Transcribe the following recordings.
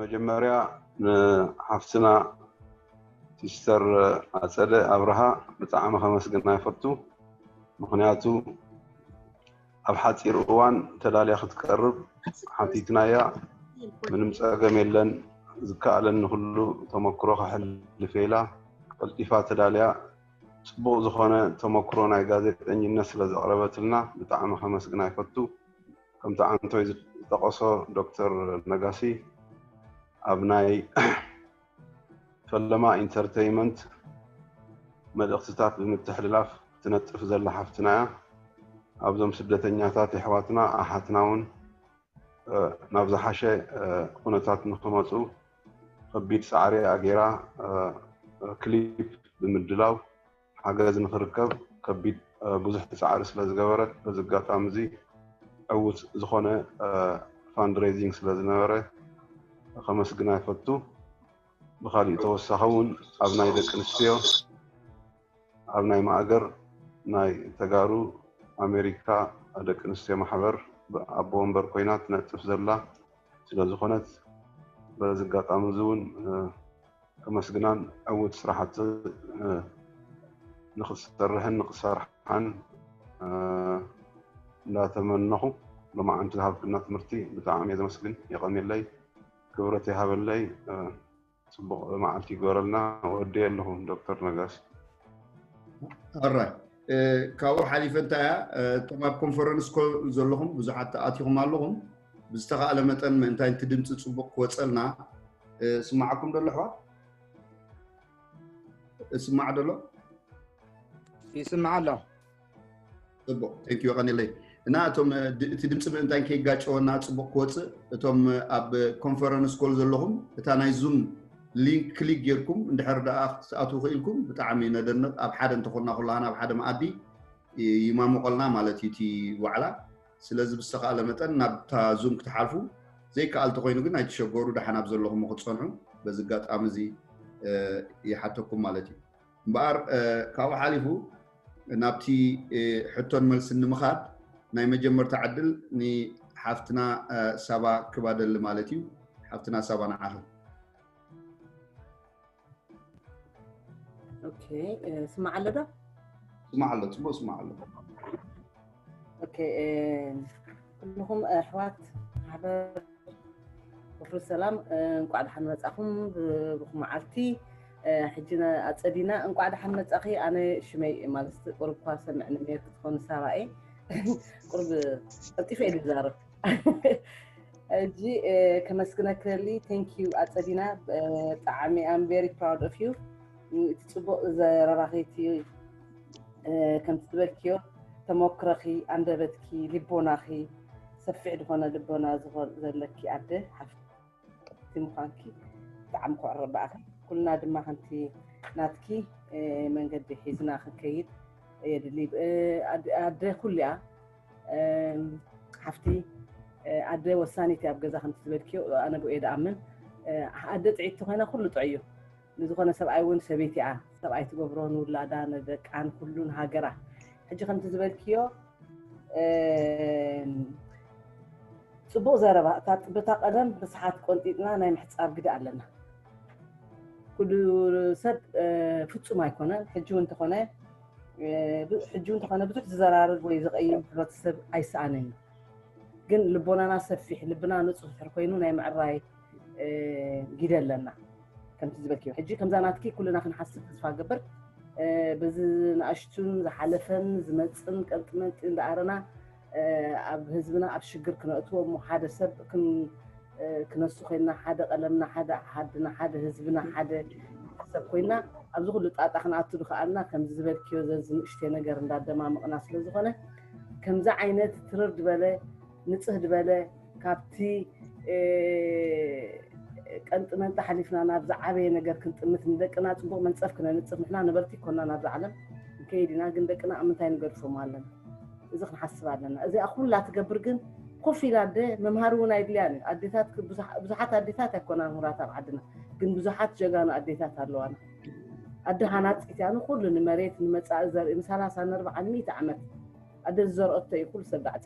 መጀመርያ ንሓፍትና ሲስተር ኣፀደ ኣብርሃ ብጣዕሚ ከመስግና ይፈቱ። ምክንያቱ ኣብ ሓፂር እዋን ተላልያ ክትቀርብ ሓቲትናያ ምንም ፀገም የለን ዝከኣለኒ ኩሉ ተመክሮ ከሕልፍ ኢላ ቀልጢፋ ተላልያ ፅቡቅ ዝኮነ ተመክሮ ናይ ጋዜጠኝነት ስለዘቅረበትልና ብጣዕሚ ከመስግና ይፈቱ። ከምቲ ኣንቶይ ዝጠቐሶ ዶክተር ነጋሲ ኣብ ናይ ፈለማ ኢንተርተይመንት መልእኽትታት ብምትሕልላፍ ትነጥፍ ዘላ ሓፍትና እያ ኣብዞም ስደተኛታት የሕዋትና ኣሓትና እውን ናብ ዝሓሸ ኩነታት ንክመፁ ከቢድ ፃዕሪ ኣገይራ ክሊፕ ብምድላው ሓገዝ ንክርከብ ከቢድ ብዙሕ ፃዕሪ ስለዝገበረት በዚ ኣጋጣሚ እዚ ዕውት ዝኾነ ፋንድሬዚንግ ስለዝነበረ ከመስግና ይፈቱ። ብካሊእ ተወሳኺ እውን ኣብ ናይ ደቂ ኣንስትዮ ኣብ ናይ ማእገር ናይ ተጋሩ ኣሜሪካ ደቂ ኣንስትዮ ማሕበር ኣቦ ወንበር ኮይና ትነጥፍ ዘላ ስለዝኾነት በዚ ኣጋጣሚ እዚ እውን ከመስግናን ዕውት ስራሕቲ ንክትሰርሕን ንክሰርሓን እንዳተመነኹ ሎማዓንቲ ዝሃብክና ትምህርቲ ብጣዕሚ እየ ዘመስግን የቀንየለይ ክብረት ይሃበለይ ፅቡቅ መዓልቲ ይግበረልና ወደየ ኣለኹ ዶክተር ነጋሲ ኣራይ ካብኡ ሓሊፈ እንታይ እያ እቶም ኣብ ኮንፈረንስ ኮ ዘለኹም ብዙሓት ኣትኹም ኣለኹም ብዝተኻእለ መጠን ምእንታይ እቲ ድምፂ ፅቡቅ ክወፀልና ስማዓኩም ደሎ ኣሕዋት እስማዕ ደሎ ይስማዕ ኣሎ ፅቡቅ ቴንክ ዩ ቀኒለይ እና እቶም እቲ ድምፂ ምእንታይ ከይጋጨወና ፅቡቅ ክወፅእ እቶም ኣብ ኮንፈረንስ ኮል ዘለኹም እታ ናይ ዙም ሊንክ ክሊክ ጌርኩም እንድሕር ደኣ ክትኣትዉ ክኢልኩም ብጣዕሚ ነደንቕ ኣብ ሓደ እንተኾንና ኩላህና ኣብ ሓደ መኣዲ ይማሙቐልና ማለት እዩ እቲ ዋዕላ ስለዚ ብዝተኻእለ መጠን ናብታ ዙም ክትሓልፉ፣ ዘይከኣል ተኾይኑ ግን ኣይትሸገሩ ደሓን ኣብ ዘለኹሞ ክትጸንሑ በዚ ኣጋጣሚ እዚ ይሓተኩም ማለት እዩ። እምበኣር ካብኡ ሓሊፉ ናብቲ ሕቶን መልስን ንምኻድ ናይ መጀመርታ ዕድል ንሓፍትና ሳባ ክባደሊ ማለት እዩ። ሓፍትና ሳባ ንዓኺ። ኦኬ ስማዕ ኣሎ ዶ ስማዕ ኣሎ ፅቡቅ ስማዕ ኣሎ ኦኬ ኩልኹም ኣሕዋት ማሕበር ወፍሪ ሰላም እንቋዕ ደሓን መፃኹም ብሩኽ መዓልቲ ሕጂ ኣፀዲና እንቋዕ ደሓን መፃኺ ኣነ ሽመይ ማለት ቁርብ እኳ ሰምዕኒ ክትኾኑ ሳባ እየ ቁርብ ቀልጢፈ እየ ዝዛረብ እጂ ከመስግነክሊ ቴንክ ዩ ኣፀዲና ብጣዕሚ ኣም ቨሪ ፕራውድ ኦፍ ዩ እቲ ፅቡቅ ዘረባኺቲ ከምቲ ትበልክዮ ተሞክረኺ ኣንደበትኪ ልቦናኺ ሰፊሕ ዝኾነ ልቦና ዘለኪ ኣደ ሓፍቲ ክብርቲ ምዃንኪ ብጣዕሚ ክዕረ በኣኺ ኩልና ድማ ከምቲ ናትኪ መንገዲ ሒዝና ክንከይድ የድሊ ኣደ ኩሉ እያ ሓፍቲ ኣደ ወሳኒት እያ ኣብ ገዛ ከምቲ ዝበልክዮ ኣነ ብኡ እየ ድኣምን ኣደ ጥዒቲ ኮይና ኩሉ ጥዑይ እዩ ንዝኾነ ሰብኣይ ውን ሰበይቲኣ ሰብኣይ ትገብሮ ንውላዳ ንደቃ ንኩሉ ንሃገራ ሕጂ ከምቲ ዝበልክዮ ጽቡቅ ዘረባ እታ ጥበታ ቀደም ብስሓት ቆንጢጥና ናይ ምሕጻብ ግዲ ኣለና ኩሉ ሰብ ፍጹም ኣይኮነን ሕጂ ውን ተኾነ ሕጂ ውን ተኾነ ብዙሕ ዝዘራርግ ወይ ዝቀይም ሕብረተሰብ ኣይሰኣንን እዩ ግን ልቦናና ሰፊሕ ልብና ንጹህ ድሕር ኮይኑ ናይ ምዕራይ ግደ ኣለና ከምቲ ዝበልክዮ ሕጂ ከምዛ ናትኪ ኩልና ክንሓስብ ተስፋ ገበር በዚ ንኣሽቱን ዝሓለፈን ዝመፅን ቀንጥመንጢ እንዳኣረና ኣብ ህዝብና ኣብ ሽግር ክነእትዎ እሞ ሓደ ሰብ ክነሱ ኮይና ሓደ ቀለምና ሓደ ዓድና ሓደ ህዝብና ሓደ ሰብ ኮይና ኣብዚ ኩሉ ጣጣ ክንኣቱ ዝኸኣልና ከምዚ ዝበልክዮ ዘዚ ንእሽተይ ነገር እንዳደማምቕና ስለዝኾነ ከምዚ ዓይነት ትርር ዝበለ ንፅህ ዝበለ ካብቲ ቀንጢ መንጢ ሓሊፍና ናብ ዝዓበየ ነገር ክንጥምት ንደቅና ፅቡቅ መንፀፍ ክነንፅፍ ንሕና ነበርቲ ኮና ናብዚ ዓለም ንከይድ ኢና ግን ደቅና ኣብ ምንታይ ንገድፎም ኣለና እዚ ክንሓስብ ኣለና እዚኣ ኩላ ትገብር ግን ኮፍ ኢላ ኣደ መምሃሪ እውን ኣይድልያን እዩ ኣዴታት ብዙሓት ኣዴታት ኣይኮና ምሁራት ኣብ ዓድና ግን ብዙሓት ጀጋኑ ኣዴታት ኣለዋና ኣደ ሃናፂት እያ ንኩሉ ንመሬት ንመፃኢ ዘርኢ ንሰላሳ ንኣርባዓን ሚእቲ ዓመት ኣደ ዝዘርኦቶ እዩ ኩሉ ሰብ ባዕዲ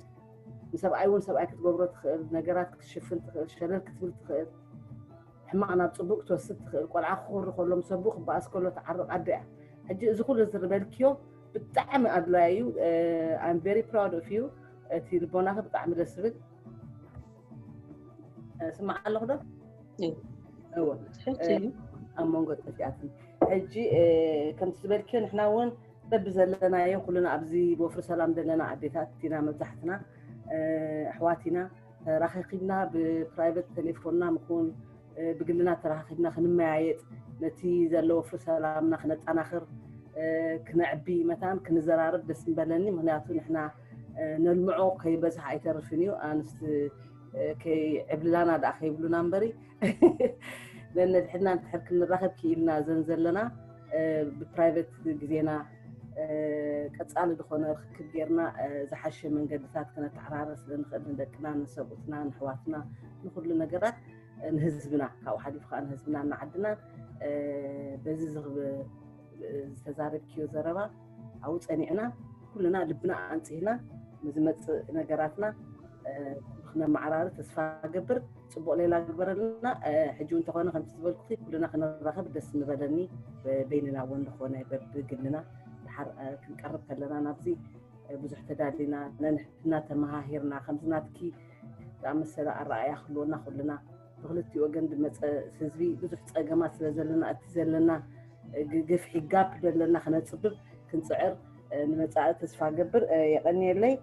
ንሰብኣይ እውን ሰብኣይ ክትገብሮ ትኽእል ነገራት ክትሽፍን ትኽእል ሸለል ክትብል ትኽእል ሕማቕ ናብ ፅቡቅ ክትወስድ ትኽእል ቆልዓ ክኹሪ ከሎ ምስ ኣቦኡ ክበኣስ ከሎ ትዓርቕ ኣደ እያ ሕጂ እዚ ኩሉ ዝርበልክዮ ብጣዕሚ ኣድላይ እዩ ኣም ቨሪ ፕራውድ ኦፍ ዩ እቲ ልቦናኺ ብጣዕሚ ደስ ዝብል ስማዕ ኣለኹ ዶ እወ ኣብ መንጎ ጥፍያትን ሕጂ ከምቲ ዝበልክዮ ንሕና እውን በብዘለናዮ ኩልና ኣብዚ ወፍሪ ሰላም ዘለና ኣዴታት ኢና መብዛሕትና ኣሕዋት ኢና ተራኺኺብና ብፕራይቨት ቴሌፎንና ምኹን ብግልና ተራኺኺብና ክንመያየጥ ነቲ ዘሎ ወፍሪ ሰላምና ክነጠናኽር ክነዕቢ መታን ክንዘራርብ ደስ ምበለኒ ምክንያቱ ንሕና ነልምዖ ከይበዝሕ ኣይተርፍን እዩ ኣንስቲ ከይዕብልላና ደኣ ከይብሉና እምበሪ ነንሕድና እንድሕር ክንራኸብ ክኢልና ዘን ዘለና ብፕራይቬት ግዜና ቀፃሊ ዝኾነ ርክክብ ጌርና ዝሓሸ መንገድታት ክነተዓራረ ስለንኽእል ንደቅና ንሰብኡትና ንሕዋትና ንኩሉ ነገራት ንህዝብና ካብኡ ሓሊፉ ከዓ ንህዝብና እናዓድና በዚ ዝተዛረብክዮ ዘረባ ኣብኡ ፀኒዕና ኩልና ልብና ኣንፅህና ንዝመፅእ ነገራትና ክነመዓራሪ ተስፋ ገብር ፅቡቅ ሌላ ግበረልና ሕጂ እውን ተኾነ ከምቲ ዝበልኩ ኩልና ክንራኸብ ደስ ምበለኒ በይንና እውን ዝኾነ በብግልና ድሓር ክንቀርብ ከለና ናብዚ ብዙሕ ተዳሊና ነንሕድና ተመሃሂርና ከምዚ ናትኪ ዝኣመሰለ ኣረኣያ ክህልወና ኩልና ብክልቲ ወገን ዝመፀ ህዝቢ ብዙሕ ፀገማት ስለ ዘለና እቲ ዘለና ግፍሒ ጋፕ ዘለና ክነፅብብ ክንፅዕር ንመፃኢ ተስፋ ገብር የቀኒየለይ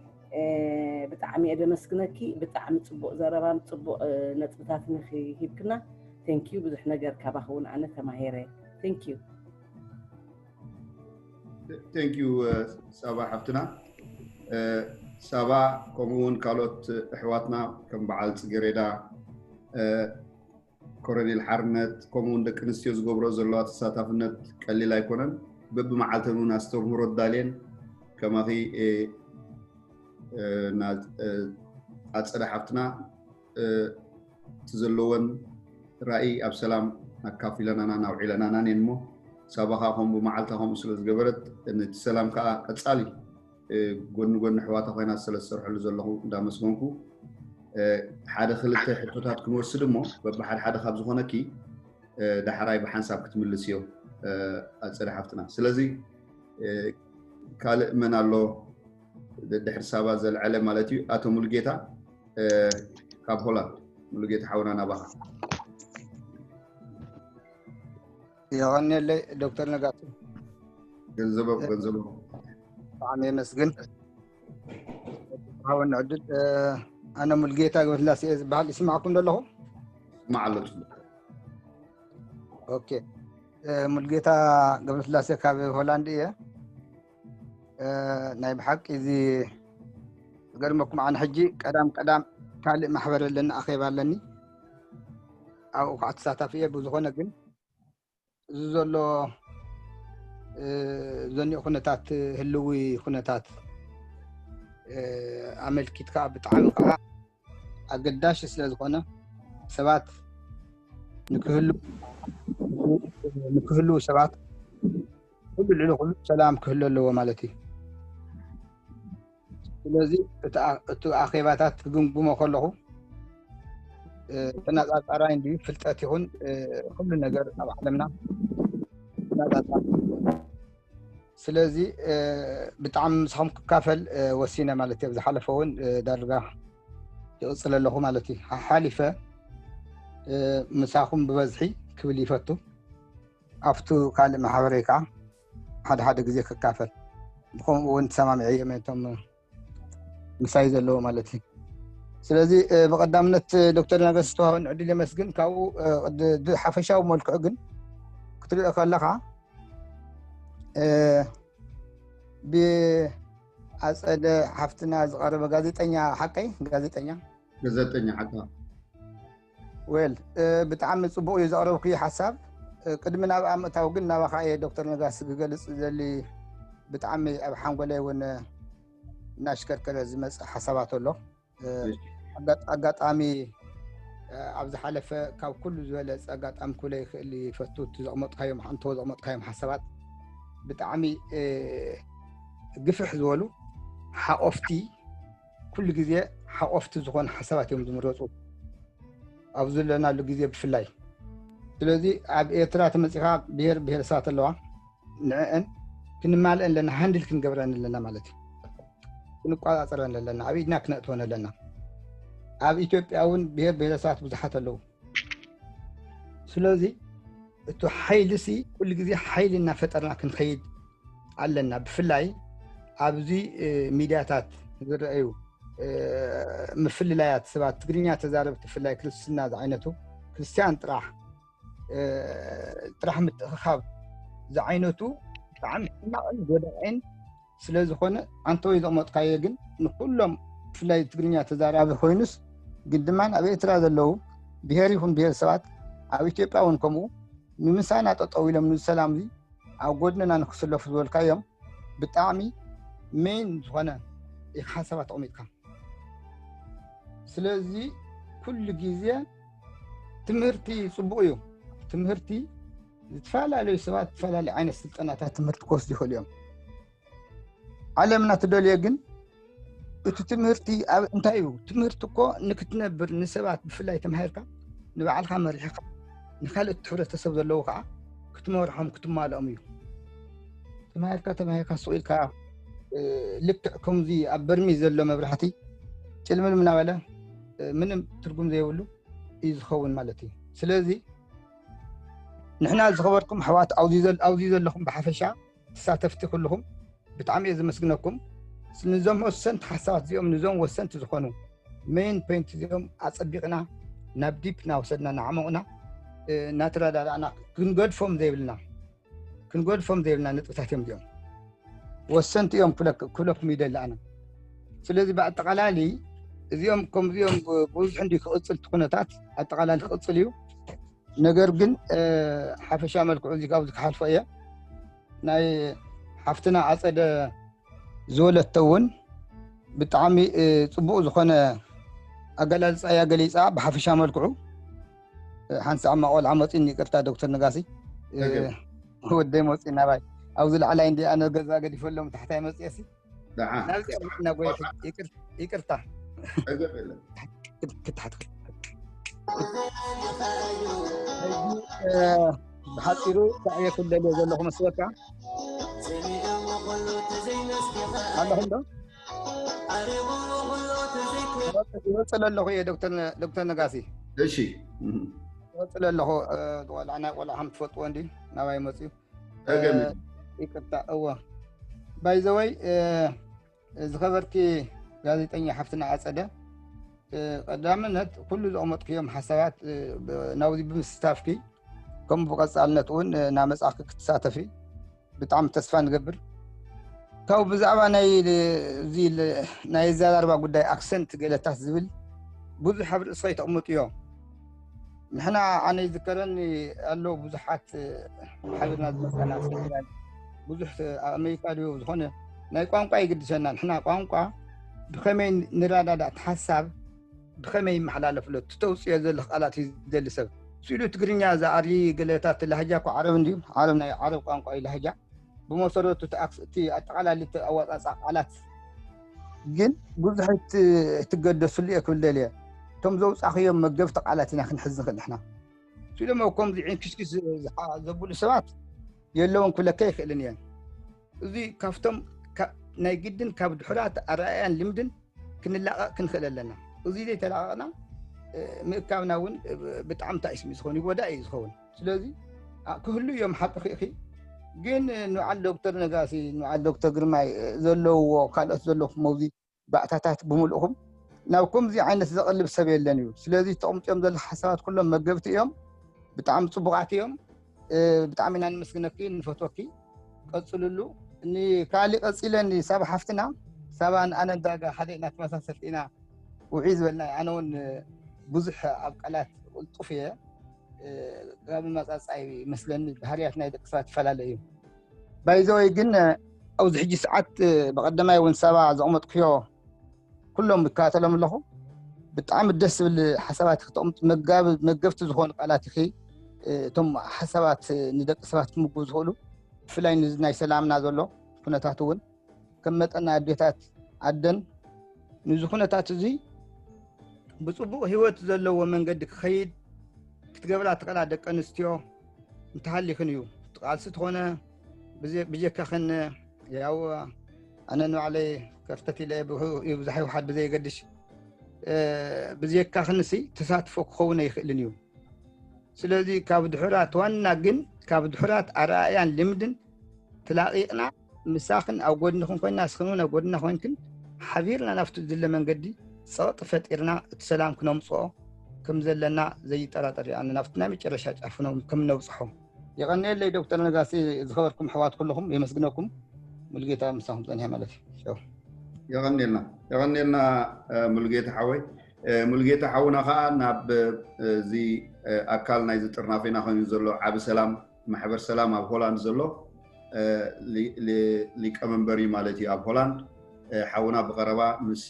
ብጣዕሚ እየ ደመስግነኪ ብጣዕሚ ፅቡቅ ዘረባን ፅቡቅ ነጥብታትን ኢኺ ሂብክና ቴንኪዩ ብዙሕ ነገር ካባኺ እውን ኣነ ተማሂረ ቴንኪዩ ቴንኪዩ ሳባ ሓፍትና ሳባ ከምኡውን ካልኦት ኣሕዋትና ከም በዓል ፅጌሬዳ ኮረኔል ሓርነት ከምኡ ውን ደቂ ኣንስትዮ ዝገብሮ ዘለዋ ተሳታፍነት ቀሊል ኣይኮነን በብመዓልተን እውን ኣስተምህሮ ኣዳልየን ከማኺ ኣፀደ ሓፍትና እቲ ዘለወን ራእይ ኣብ ሰላም ኣካፊለናናን ኣውዒለናናን እየን እሞ ሳባኻ ከምኡ ብመዓልታ ከምኡ ስለ ዝገበረት ነቲ ሰላም ከዓ ቀፃሊ ጎኒ ጎኒ ኣሕዋታ ኮይና ስለ ዝሰርሐሉ ዘለኹ እንዳመስገንኩ ሓደ ክልተ ሕቶታት ክንወስድ እሞ በብሓደ ሓደ ካብ ዝኾነኪ ዳሕራይ ብሓንሳብ ክትምልስ እዮ ኣፀደ ሓፍትና ስለዚ ካልእ መን ኣሎ ድሕሪ ሳባ ዘልዐለ ማለት እዩ ኣቶ ሙሉጌታ ካብ ሆላንድ ሙሉጌታ ሓውና ናባኻ የቐንየለይ ዶክተር ነጋሶ ገንዘቦ ገንዘቦ ብጣዕሚ የመስግን ሃወኒ ዕድል ኣነ ሙልጌታ ገብረስላሴ እየ ዝበሃል ይስማዕኩም ዘለኹ ስማዕ ኣሎ ፅቡቅ ኦኬ ሙልጌታ ገብረስላሴ ካብ ሆላንድ እየ ናይ ብሓቂ እዚ ዝገርመኩም ኣነ ሕጂ ቀዳም ቀዳም ካልእ ማሕበር ኣለኒ ኣኼባ ኣለኒ ኣብኡ ከዓ ተሳታፊ እየ ብዝኾነ ግን እዚ ዘሎ ዘኒኡ ኩነታት ህልዊ ኩነታት ኣመልኪትካ ብጣዕሚ ከዓ ኣገዳሽ ስለ ዝኾነ ሰባት ንክህልው ሰባት ኩሉ ልዕሊ ኩሉ ሰላም ክህሉ ኣለዎ ማለት እዩ ስለዚ እቲ ኣኼባታት ክግምግሞ ከለኹ ተናፃፃራይ እንድዩ ፍልጠት ይኹን ኩሉ ነገር ኣብ ዓለምና ተናፃፃሪ ስለዚ ብጣዕሚ ምሳኹም ክካፈል ወሲነ ማለት እየ ዝሓለፈ እውን ዳርጋ ይቕፅለ ኣለኹ ማለት እዩ ሓሓሊፈ ምሳኹም ብበዝሒ ክብል ይፈቱ ኣብቱ ካልእ ማሕበረይ ከዓ ሓደ ሓደ ግዜ ክካፈል ብከምኡ እውን ተሰማሚዐ እዮም እቶም ምሳይ ዘለዎ ማለት እዩ ስለዚ ብቀዳምነት ዶክተር ነገስ ዝተዋሃበ ዕድል የመስግን ካብኡ ሓፈሻዊ መልክዑ ግን ክትሪኦ ከለካ ብኣፀደ ሓፍትና ዝቀረበ ጋዜጠኛ ሓቀይ ጋዜጠኛ ጋዜጠኛ ሓቀ ዌል ብጣዕሚ ፅቡቅ እዩ ዘቅረብክዮ ሓሳብ ቅድሚ ናብኣ ምእታው ግን ናባካ እየ ዶክተር ነጋሲ ክገልፅ ዘሊ ብጣዕሚ ኣብ ሓንጎለይ እውን እናሽከርከረ ዝመፅ ሓሳባት ኣሎ ኣጋጣሚ ኣብ ዝሓለፈ ካብ ኩሉ ዝበለፀ ኣጋጣሚ ክብለ ይክእል ይፈቱ እቲ ዘቅመጥካዮም ሓንቶ ዘቅመጥካዮም ሓሳባት ብጣዕሚ ግፍሕ ዝበሉ ሓቆፍቲ ኩሉ ግዜ ሓቆፍቲ ዝኾኑ ሓሳባት እዮም ዝምረፁ ኣብ ዘለናሉ ግዜ ብፍላይ ስለዚ ኣብ ኤርትራ ተመፂኻ ብሄር ብሄረሰባት ኣለዋ ንዕአን ክንማልአን ኣለና ሃንድል ክንገብረን ኣለና ማለት እዩ ክንቆፃፀረን ኣለና ኣብ ኢድና ክነእትወን ኣለና ኣብ ኢትዮጵያ እውን ብሄር ብሄረሰባት ብዙሓት ኣለዉ ስለዚ እቲ ሓይሊ ሲ ኩሉ ግዜ ሓይሊ እናፈጠርና ክንከይድ ኣለና ብፍላይ ኣብዚ ሚድያታት ዝረአዩ ምፍልላያት ሰባት ትግርኛ ተዛረብ ትፍላይ ክርስትና ዝዓይነቱ ክርስትያን ጥራሕ ጥራሕ ምትእኽኻብ ዝዓይነቱ ብጣዕሚ ሕማቕን ጎዳእን ስለዝኾነ ኣንተወይ ዘቕመጥካዮ ግን ንኩሎም ብፍላይ ትግርኛ ተዛራቢ ኮይኑስ ግን ድማ ኣብ ኤርትራ ዘለዉ ብሄር ይኹን ብሄር ሰባት ኣብ ኢትዮጵያ እውን ከምኡ ንምሳና ጠጠው ኢሎም ንሰላም እዚ ኣብ ጎድንና ንክስለፉ ዝበልካዮም ብጣዕሚ ሜን ዝኾነ ኢኻ ሓሳብ ኣተቕሚጥካ ስለዚ ኩሉ ግዜ ትምህርቲ ፅቡቅ እዩ ትምህርቲ ዝተፈላለዩ ሰባት ዝተፈላለዩ ዓይነት ስልጠናታት ትምህርቲ ክወስዱ ይኽእሉ እዮም ዓለምና ትደልዮ ግን እቲ ትምህርቲ ኣብ እንታይ እዩ ትምህርቲ እኮ ንክትነብር ንሰባት ብፍላይ ተማሂርካ ንባዕልካ መሪሕካ ንካልእ ሕብረተሰብ ዘለዎ ከዓ ክትመርሖም ክትማልኦም እዩ ተማሂርካ ተማሂርካ ሱቅ ኢልካ ልክዕ ከምዚ ኣብ በርሚ ዘሎ መብራህቲ ጭልምልም እናበለ ምንም ትርጉም ዘይብሉ እዩ ዝኸውን ማለት እዩ ስለዚ ንሕና ዝኸበርኩም ኣሕዋት ኣብዚ ዘለኹም ብሓፈሻ ተሳተፍቲ ኩልኹም ብጣዕሚ እየ ዘመስግነኩም ንዞም ወሰንቲ ሓሳባት እዚኦም ንዞም ወሰንቲ ዝኾኑ ሜን ፖይንት እዚኦም ኣፀቢቕና ናብ ዲፕ እናወሰድና እናዓመቑና እናተረዳዳእና ክንገድፎም ዘይብልና ክንጎድፎም ዘይብልና ነጥብታት እዮም እዚኦም ወሰንቲ እዮም ክብለኩም ይደሊ ኣነ ስለዚ ብኣጠቃላሊ እዚኦም ከምዚኦም ብዙሕ እንዲ ክቕፅል እቲ ኩነታት ኣጠቃላሊ ክቕፅል እዩ ነገር ግን ሓፈሻ መልክዑ እዚ ካብዚ ክሓልፎ እየ ናይ ሓፍትና ኣፀደ ዝወለቶ እውን ብጣዕሚ ፅቡቅ ዝኾነ ኣገላልፃ እያ ገሊፃ ብሓፈሻ መልክዑ ሓንቲ ፃዕማ ቆልዓ መፂኡኒ ይቅርታ ዶክተር ነጋሲ ወደይ መፂኡ ናባይ ኣብዚ ላዕላይ እንዲ ኣነ ገዛ ገዲፈሎም ታሕታይ መፅኦሲ ይቅርታ ክትሓት ብሓፂሩ ሳዕየ ክደልዮ ዘለኹ መስበካ ኣለኹም ዶ ይወፅእ ለለኹ እየ ዶክተር ነጋሲ እሺ ይወፅእ ለለኹ ቆልዓ ናይ ቆልዓ ከም ትፈልጥዎ እንዲ ናባይ መፅዩ ይቅርታ እዎ ባይዘወይ ዝኸበርቲ ጋዜጠኛ ሓፍትና ኣፀደ ቀዳምነት ኩሉ ዘቕመጥክዮም ሓሳባት ናብዚ ብምስታፍኪ ከምኡ ብቐፃልነት እውን ናመፃእኪ ክትሳተፊ ብጣዕሚ ተስፋ ንገብር ካብኡ ብዛዕባ ናይ እዚ ናይ ዘራርባ ጉዳይ ኣክሰንት ገለታት ዝብል ብዙሕ ኣብ ርእስኻ ይተቕምጡ እዮም ንሕና ኣነ ይዝከረኒ ኣሎ ብዙሓት ሓቢርና ዝመፀና ሰሚናር ብዙሕ ኣብ ኣሜሪካ ድዮ ዝኾነ ናይ ቋንቋ ይግድሰና ንሕና ቋንቋ ብኸመይ ንረዳዳእ እቲ ሓሳብ ብኸመይ ይመሓላለፍ ኣሎ እቲ ተውፅዮ ዘለኽ ቃላት እዩ ዝደሊ ሰብ ስኢሉ ትግርኛ ዝኣሪ ገለታት ላህጃ እኮ ዓረብ እንድዩ ዓረብ ናይ ዓረብ ቋንቋ እዩ ላህጃ ብመሰረቱ እቲ ኣጠቃላሊ ኣወፃፃ ቃላት ግን ብዙሕ ትገደስሉ እየ ክብል ደልየ እቶም ዘውፃኽዮም መገብቲ ቃላት ኢና ክንሕዝ ንኽእል ንሕና ስኢሎም ከምዚ ዒንኪስኪስ ዘብሉ ሰባት የለውን ክብለካ ይኽእልን እየን እዚ ካብቶም ናይ ግድን ካብ ድሑራት ኣረኣያን ልምድን ክንላቐቕ ክንኽእል ኣለና እዚ ዘይተላቐቕና ምእካብና እውን ብጣዕሚ ታይስሚ ዝኸውን ይጎዳእ እዩ ዝኸውን ስለዚ ክህሉ እዮም ሓቂ ክኢኺ ግን ንበዓል ዶክተር ነጋሲ ንበዓል ዶክተር ግርማይ ዘለውዎ ካልኦት ዘለኹም ኣብዚ ባእታታት ብምሉእኩም ናብ ከምዚ ዓይነት ዘቕልብ ሰብ የለን እዩ ስለዚ ተቕምጥዮም ዘሎ ሓሳባት ኩሎም መገብቲ እዮም ብጣዕሚ ፅቡቓት እዮም ብጣዕሚ ኢና ንመስግነኪ ንፈትወኪ ቀፅልሉ ንካሊእ ቀፂለን ሳባ ሓፍትና ሳባን ኣነ ዳጋ ሓደ ኢና ተመሳሰልቲ ኢና ውዒ ዝበልና ኣነ እውን ብዙሕ ኣብ ቃላት ቅልጡፍ እየ ካብ መፃፃይ መስለኒ ባህርያት ናይ ደቂ ሰባት ይፈላለ እዩ ባይዘወይ ግን ኣብዚ ሕጂ ሰዓት ብቀደማይ እውን ሰባ ዘቕመጥኩዮ ኩሎም ይከታተሎም ኣለኹ ብጣዕሚ ደስ ዝብል ሓሳባት ክተቕምጡ መገብቲ ዝኾኑ ቃላት ኢኺ እቶም ሓሳባት ንደቂ ሰባት ክምግቡ ዝኽእሉ ብፍላይ ንዚ ናይ ሰላምና ዘሎ ኩነታት እውን ከም መጠን ናይ ኣዴታት ኣደን ንዚ ኩነታት እዚ ብፅቡቕ ህይወት ዘለዎ መንገዲ ክኸይድ ክትገብራ ትኽእላ ደቂ ኣንስትዮ እንተሃሊኽን እዩ ትቃልሲ ትኾነ ብጀካኽን ያው ኣነ ንባዕለይ ከፍተት ኢለ ይብዛሕ ይውሓድ ብዘየገድሽ ብዘካኽንሲ ተሳትፎ ክኸውን ኣይኽእልን እዩ ስለዚ ካብ ድሑራት ዋና ግን ካብ ድሑራት ኣረኣያን ልምድን ትላቂቕና ምሳኽን ኣብ ጎድንኽን ኮይና ንስኽን እውን ኣብ ጎድና ኮይንክን ሓቢርና ናብቲ ዝድለ መንገዲ ፀቕጢ ፈጢርና እቲ ሰላም ክነምፅኦ ከም ዘለና ዘይጠራጠር እዩ ኣነ ናብቲ ናይ መጨረሻ ጫፍ ከም ነብፅሖ የቐንየለይ ዶክተር ነጋሲ ዝኸበርኩም ኣሕዋት ኩለኹም የመስግነኩም ሙልጌታ ምሳኹም ፀኒሐ ማለት እዩ የቐንየልና የቐንየልና ሙልጌታ ሓወይ ሙልጌታ ሓውና ከዓ ናብ እዚ ኣካል ናይዚ ጥርናፌና ኮይኑ ዘሎ ዓብ ሰላም ማሕበር ሰላም ኣብ ሆላንድ ዘሎ ሊቀመንበር እዩ ማለት እዩ ኣብ ሆላንድ ሓውና ብቀረባ ምስ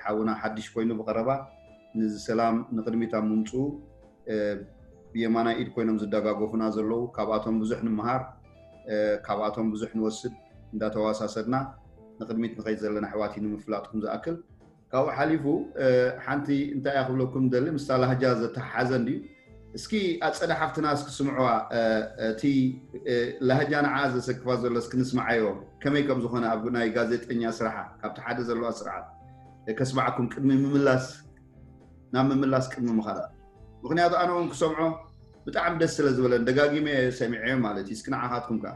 ሓውና ሓድሽ ኮይኑ ብቀረባ ንዚ ሰላም ንቅድሚት ኣብ ምምፅኡ ብየማናይ ኢድ ኮይኖም ዝደጋገፉና ዘለዉ ካብኣቶም ብዙሕ ንምሃር ካብኣቶም ብዙሕ ንወስድ እንዳተዋሳሰድና ንቅድሚት ንኸይድ ዘለና ኣሕዋት እዩ ንምፍላጥኩም ዝኣክል ካብኡ ሓሊፉ ሓንቲ እንታይ እያ ክብለኩም ደሊ ምስታ ላህጃ ዘተሓሓዘ እንድዩ እስኪ ኣፀደ ሓፍትና እስኪ ስምዕዋ እቲ ላህጃ ንዓ ዘሰክፋ ዘሎ እስኪ ንስምዓዮ ከመይ ከም ዝኾነ ኣብ ናይ ጋዜጠኛ ስራሓ ካብቲ ሓደ ዘለዋ ስርዓት ከስማዓኩም ቅድሚ ምምላስ ናብ ምምላስ ቅድሚ ምኻድ ምክንያቱ ኣነ እውን ክሰምዖ ብጣዕሚ ደስ ስለ ዝበለን ደጋጊመ ሰሚዐዮ ማለት እዩ እስኪ ንዓኻትኩም ከዓ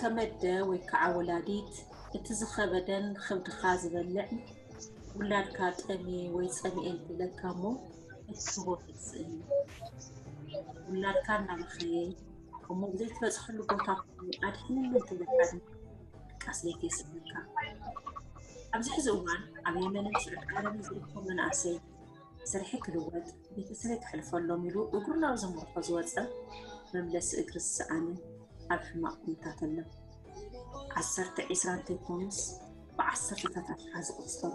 ከም ኣደ ወይ ከዓ ወላዲት እቲ ዝኸበደን ኽብድኻ ዝበልዕን ውላድካ ጠምየ ወይ ፀሚኤ እንተኢለካ እሞ እትህቦ ተስእን እዩ። ውላድካ እናበኸየ እሞ ብዘይትበፅሐሉ ቦታ ኮይኑ ኣድሕነኒ እንተኢለካ ድማ ድቃስ ለይቲ የስምካ። ኣብዚ ሕዚ እዋን ኣብ የመንን ስዑድ ዓረብን ዝርከቡ መናእሰይ ስርሒ ክልወጥ ቤተሰበይ ክሕልፈሎም ኢሉ እግሩ ናብ ዘምርሖ ዝወፀ መምለሲ እግሪ ዝሰኣነ ኣብ ሕማቕ ኩነታት ኣሎ። ዓሰርተ ዒስራ እንተይኮኑስ ብዓሰርተታት ኣፍሓ ዝቑፀሩ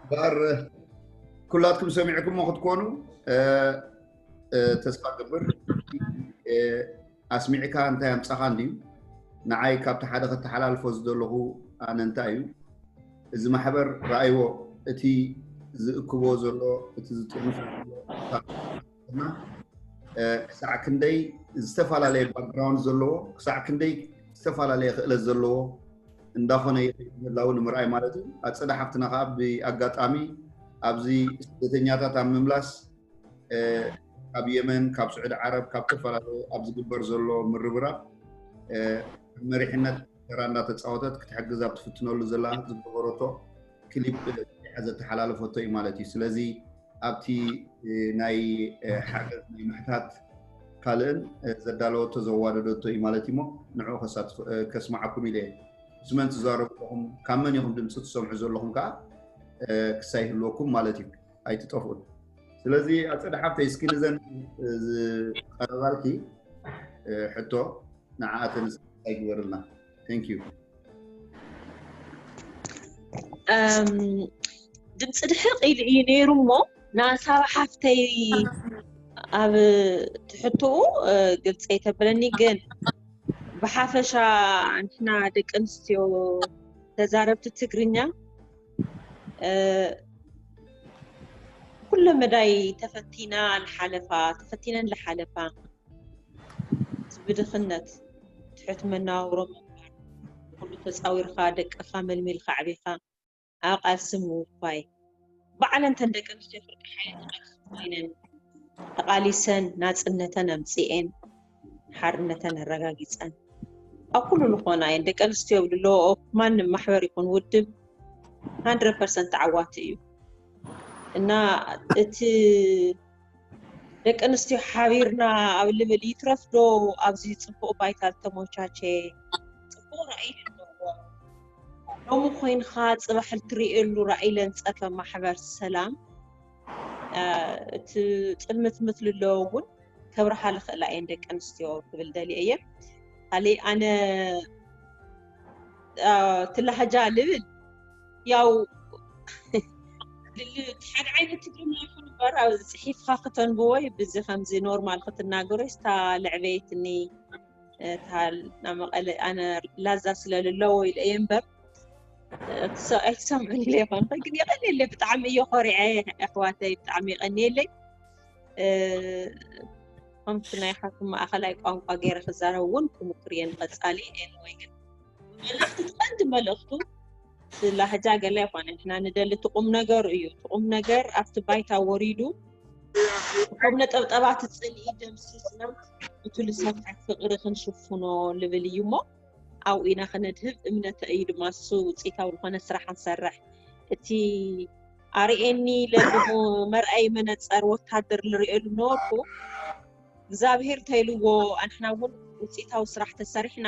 ባር ኩላትኩም ሰሚዕኩሞ ክትኮኑ ተስፋ ገብር ኣስሚዕካ እንታይ ኣምፃኻ እንድዩ ንዓይ ካብቲ ሓደ ከተሓላልፎ ዝደለኹ ኣነ እንታይ እዩ እዚ ማሕበር ረኣይዎ እቲ ዝእክቦ ዘሎ እቲ ዝጥርንፎ ዘሎ እና ክሳዕ ክንደይ ዝተፈላለየ ባክግራውንድ ዘለዎ ክሳዕ ክንደይ ዝተፈላለየ ክእለት ዘለዎ እንዳኾነ ይኸይድ ምህላው ንምርኣይ ማለት እዩ ኣፀደ ሓፍትና ከዓ ብኣጋጣሚ ኣብዚ ስደተኛታት ኣብ ምምላስ እ፣ ካብ የመን ካብ ስዑዲ ዓረብ ካብ ዝተፈላለዩ ኣብ ዝግበር ዘሎ ምርብራብ እ፣ መሪሕነት ተራ እንዳተፃወተት ክትሕግዝ ኣብ ትፍትነሉ ዘላ ዝገበረቶ ክሊፕ ሰሪሓ ዘተሓላለፈቶ እዩ ማለት እዩ ስለዚ ኣብቲ ናይ ሓገዝ ናይ ምሕታት ካልእን ዘዳለወቶ ዘዋደደቶ እዩ ማለት እዩሞ ንዕኡ ከስማዓኩም ኢለ እየ ምስ መን ትዛረቡ ኣለኹም ካብ መን ኢኹም ድምፂ ትሰምዑ ዘለኹም ከዓ ክሳይ ህልወኩም ማለት እዩ ኣይትጠፍኡን ስለዚ ኣፀደ ሓፍተይ እስኪ ንዘን ዝቀረባልኪ ሕቶ ንዓኣተን እንታይ ግበርልና ዩ ድምፂ ድሕር ቂሉ እዩ ነይሩ እሞ ንሳብ ሓፍተይ ኣብ ትሕትኡ ግልፂ ኣይተብለኒ ግን ብሓፈሻ ንሕና ደቂ ኣንስትዮ ተዛረብቲ ትግርኛ ኩለ መዳይ ተፈቲና ንሓለፋ ተፈቲነን ዝሓለፋ እዚ ብድኽነት ትሑት መነባብሮ ምንባር፣ ንኹሉ ተጻዊርካ ደቅኻ መልሚልካ ኣዕቢኻ ኣብ ቃልሲ ምውፋይ፣ ባዕለን እተን ደቂ ኣንስትዮ ፍርቂ ሓይሊ እቲ ቃልሲ ኮይነን ተቓሊሰን ናጽነተን ኣምጺኤን ሓርነተን ኣረጋጊጸን ኣብ ኩሉ ዝኾና እየን። ደቂ ኣንስትዮ ኣብ ልለወኦ ማንም ማሕበር ይኹን ውድብ 100% ተዓዋቲ እዩ እና እቲ ደቂ ኣንስትዮ ሓቢርና ኣብ ልብል ይትረፍ ዶ ኣብዚ ፅቡቕ ባይታ ዝተሞቻቸ ፅቡቕ ራእይ ኣለዎ ሎሚ ኮይንካ ፅባሕ እትርእየሉ ራእይ ለንፀፈ ማሕበር ሰላም እቲ ፅልምት ምትል ኣለዎ እውን ከብርሃ ልኽእላ እየን ደቂ ኣንስትዮ ክብል ደልየ እየ ካሊእ ኣነ ትላሃጃ ልብል ያው ሓደ ዓይነት ትግርኛ ይኹን እምበር ኣብ ፅሒፍካ ክተንብቦ ብዚ ከምዚ ኖርማል ክትናገሮ ስታ ልዕበየትኒ እታ ናብ መቐለ ኣነ ላዛ ስለ ልለዎ ኢለ እየ እምበር ኣይትሰምዑን ኢለ ይኾን ኸ ግን የቐኒየለይ ብጣዕሚ እየ ኮሪዐ ኣሕዋተይ ብጣዕሚ የቐኒየለይ ከምቲ ናይ ሓኩም ማእኸላይ ቋንቋ ገይረ ክዛረብ እውን ክምኩር እየ ንቐፃሊ ኤንወይ ግን መልእኽቲ እቲ ቀንዲ መልእኽቱ እቲ ላህጃ ገለ ኣይኮነ ንሕና ንደሊ እቲ ቁም ነገሩ እዩ እቲ ቁም ነገር ኣብቲ ባይታ ወሪዱ እቶም ነጠብጠባት ፅልኢ ደምሲስናም እቲ ልሰብሓት ፍቕሪ ክንሽፍኖ ልብል እዩ እሞ ኣብኡ ኢና ክነድህብ እምነተ እዩ ድማ እሱ ውፅኢታዊ ዝኾነ ስራሕ ንሰርሕ እቲ ኣርእየኒ ለልሞ መርኣይ መነፀር ወታደር ልርእየሉ ነበርኩ እግዚኣብሄር ተይልዎ ኣንሕና እውን ውፅኢታዊ ስራሕ ተሰሪሕና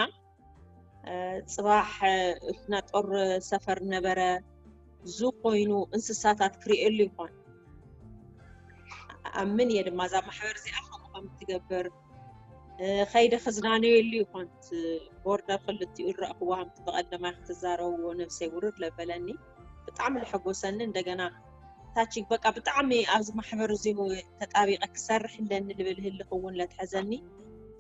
ፅባሕ ናጦር ሰፈር ነበረ ዙ ኮይኑ እንስሳታት ክርእየሉ ይኾን ኣምን እየ ድማ እዛ ማሕበር እዚኣ ከምኡ ከም እትገብር ከይደ ክዝናነየሉ ይኾን ቦርደ ክልቲኡ ዝረእኽዎ ከምቲ ብቐደማ ክትዛረብዎ ነብሰይ ውርድ ለበለኒ ብጣዕሚ ዝሐጎሰኒ እንደገና ታች በቃ ብጣዕሚ ኣብዚ ማሕበር እዚ ተጣቢቐ ክሰርሕ ኣለኒ ልብል ህልኽ እውን ለትሐዘኒ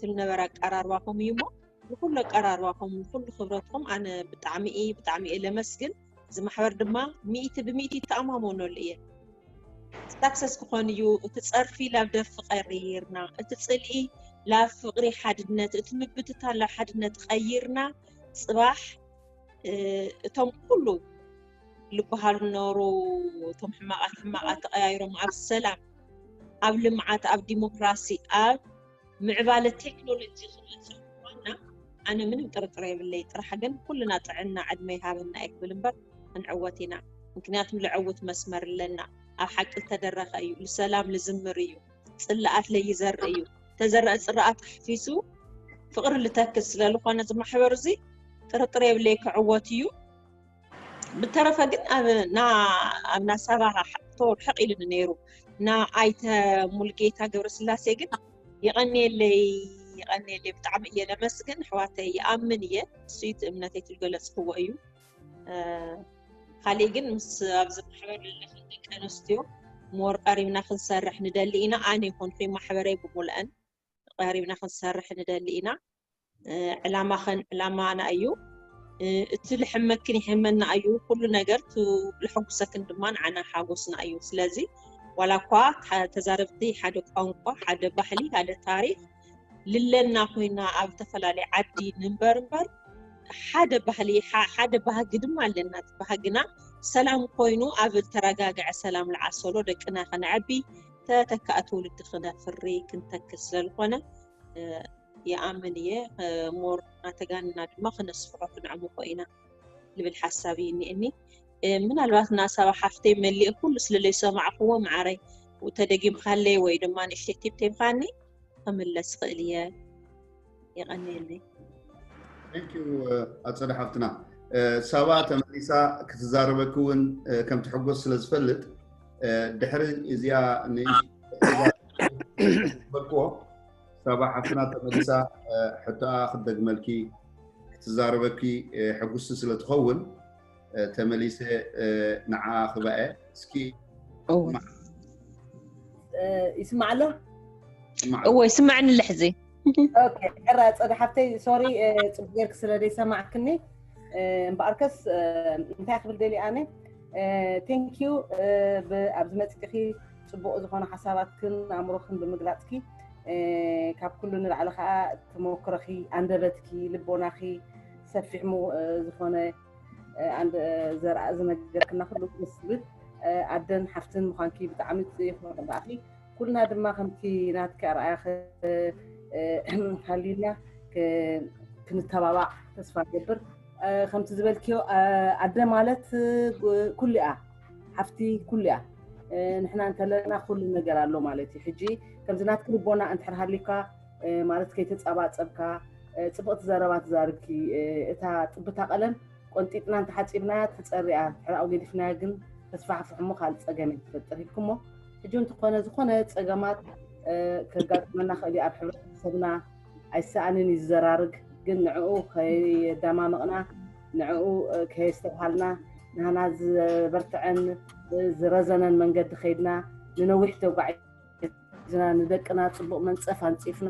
ትልነበረ ኣቀራርባኹም እዩ እሞ ብኩሉ ኣቀራርባኹም ብኩሉ ክብረትኩም ኣነ ብጣዕሚ እየ ብጣዕሚ እየ ለመስግን እዚ ማሕበር ድማ ሚእቲ ብሚእቲ ይተኣማመነሉ እየ ሳክሰስ ክኾን እዩ እቲ ፀርፊ ላብ ደርፊ ቀይርና እቲ ፅልኢ ላብ ፍቅሪ ሓድነት እቲ ምብትታ ላብ ሓድነት ቀይርና ፅባሕ እቶም ኩሉ ልበሃሉ ነበሩ እቶም ሕማቃት ሕማቃት ተቀያይሮም ኣብ ሰላም ኣብ ልምዓት ኣብ ዲሞክራሲ ኣብ ምዕባለ ቴክኖሎጂ ክመፅእ ምኳና ኣነ ምንም ጥርጥር የብለይ ጥራሕ ግን ኩልና ጥዕና ዕድመ ይሃበና እየ ክብል እምበር ክንዕወት ኢና ምክንያቱም ልዐውት መስመር ኣለና ኣብ ሓቂ ዝተደረኸ እዩ ልሰላም ልዝምር እዩ ፅላኣት ለይዘርእ እዩ ተዘረአ ፅራኣት ኣሕፊሱ ፍቅሪ ልተክል ስለልኾነ ዝማሕበር እዚ ጥርጥር የብለይ ክዕወት እዩ ብተረፈ ግን ኣብ ኣብና ሰባ ተወር ሕቕ ኢሉኒ ነይሩ እና ኣይተ ሙልጌታ ገብረስላሴ ግን ይቐኒየለይ ይቐኒየለይ ብጣዕሚ እየ ለመስግን ኣሕዋተይ ይኣምን እየ ንሱይት እምነተይ ትልገለፅክዎ እዩ ካሊእ ግን ምስ ኣብዚ ማሕበር ዘለኽን ደቂ ኣንስትዮ ሞር ቀሪብና ክንሰርሕ ንደሊ ኢና ኣነ ይኹንኩ ማሕበረይ ብምልአን ተቐራሪብና ክንሰርሕ ንደሊ ኢና። ዕላማኸን ዕላማና እዩ። እቲ ልሕመክን ይሕመና እዩ። ኩሉ ነገር ልሐጉሰክን ድማ ንዓና ሓጎስና እዩ። ስለዚ ዋላ እኳ ተዛረብቲ ሓደ ቋንቋ፣ ሓደ ባህሊ፣ ሓደ ታሪክ ልለና ኮይና ኣብ ዝተፈላለየ ዓዲ ንንበር እምበር ሓደ ባህሊ ሓደ ባህጊ ድማ ኣለና እቲ ባህግና ሰላም ኮይኑ ኣብ ዝተረጋገዐ ሰላም ልዓሰሎ ደቅና ከነዐቢ ተተካኢ ትውልዲ ክነፍሪ ክንተክስ ዘልኾነ ይኣምን እየ ሞር ኣተጋንና ድማ ክነስፍሖ ክንዕምኮ ኢና ልብል ሓሳብ እዩ እኒእኒ ምናልባት ናሳባ ሓፍተይ መሊእ ኩሉ ስለለይ ሰማዕክዎ መዓረይ ተደጊምካለይ ወይ ድማ ንእሽተይ ቲፕ ተይምካኒ ክምለስ ክእል እየ የቀንየለይ ቴንኪዩ ኣፀደ ሓፍትና ሳባ ተመሊሳ ክትዛረበኪ እውን ከም ትሕጎስ ስለ ዝፈልጥ ድሕሪ እዚኣ ንበልክዎ ሳባ ሓፍትና ተመሊሳ ሕቶኣ ክትደግመልኪ ክትዛረበኪ ሕጉስቲ ስለ ትኸውን ተመሊሰ ንዓኣ ክባኤ እስኪ ይስማዕ ኣሎ እዎ ይስማዕኒ ልሕዚ ዕራ ፀደ ሓፍተይ ሶሪ ፅቡቅ ጌርክ ስለ ዘይሰማዕክኒ እምበኣርከስ እንታይ ክብል ደልየ ኣነ ቴንኪዩ ኣብዚ መፅእኺ ፅቡቅ ዝኮነ ሓሳባትክን ኣእምሮክን ብምግላፅኪ ካብ ኩሉ ንላዕሊ ከዓ ተመክሮኺ ኣንደበትኪ ልቦናኺ ሰፊሕ ሙ ዝኾነ ኣንድ ዘርኣ ዝነገርክና ክሉ ምስብል ኣደን ሓፍትን ምዃንኪ ብጣዕሚ ይኹርዕ ብኣኺ ኩልና ድማ ከምቲ ናትኪ ኣርኣያ ሃልዩና ክንተባባዕ ተስፋ ገብር ከምቲ ዝበልክዮ ኣደ ማለት ኩሉ እያ ሓፍቲ ኩሉ እያ ንሕና እንተለና ኩሉ ነገር ኣሎ ማለት እዩ ሕጂ ከምዚ ናትኪ ልቦና እንድሕር ሃልዩካ ማለት ከይተፀባፀብካ ፅብቕቲ ዘረባ ትዛርብኪ እታ ጥብታ ቀለም ቆንጢጥና እንተሓፂብናያ ትፀርያ ሕራኡ ገዲፍናያ ግን ተስፋሕፍሕ እሞ ካልእ ፀገም እዩ ትፈጥር ኢልኩሞ ሕጂ እንትኾነ ዝኾነ ፀገማት ከጋጥመና ክእል ኣብ ሕብረተሰብና ኣይሰኣንን እዩ ዝዘራርግ ግን ንዕኡ ከይዳማመቕና ንዕኡ ከየስተብሃልና ንሃና ዝበርትዐን ዝረዘነን መንገዲ ከይድና ንነዊሕ ተጓዒ ዝና ንደቅና ፅቡቅ መንፀፍ ኣንፂፍና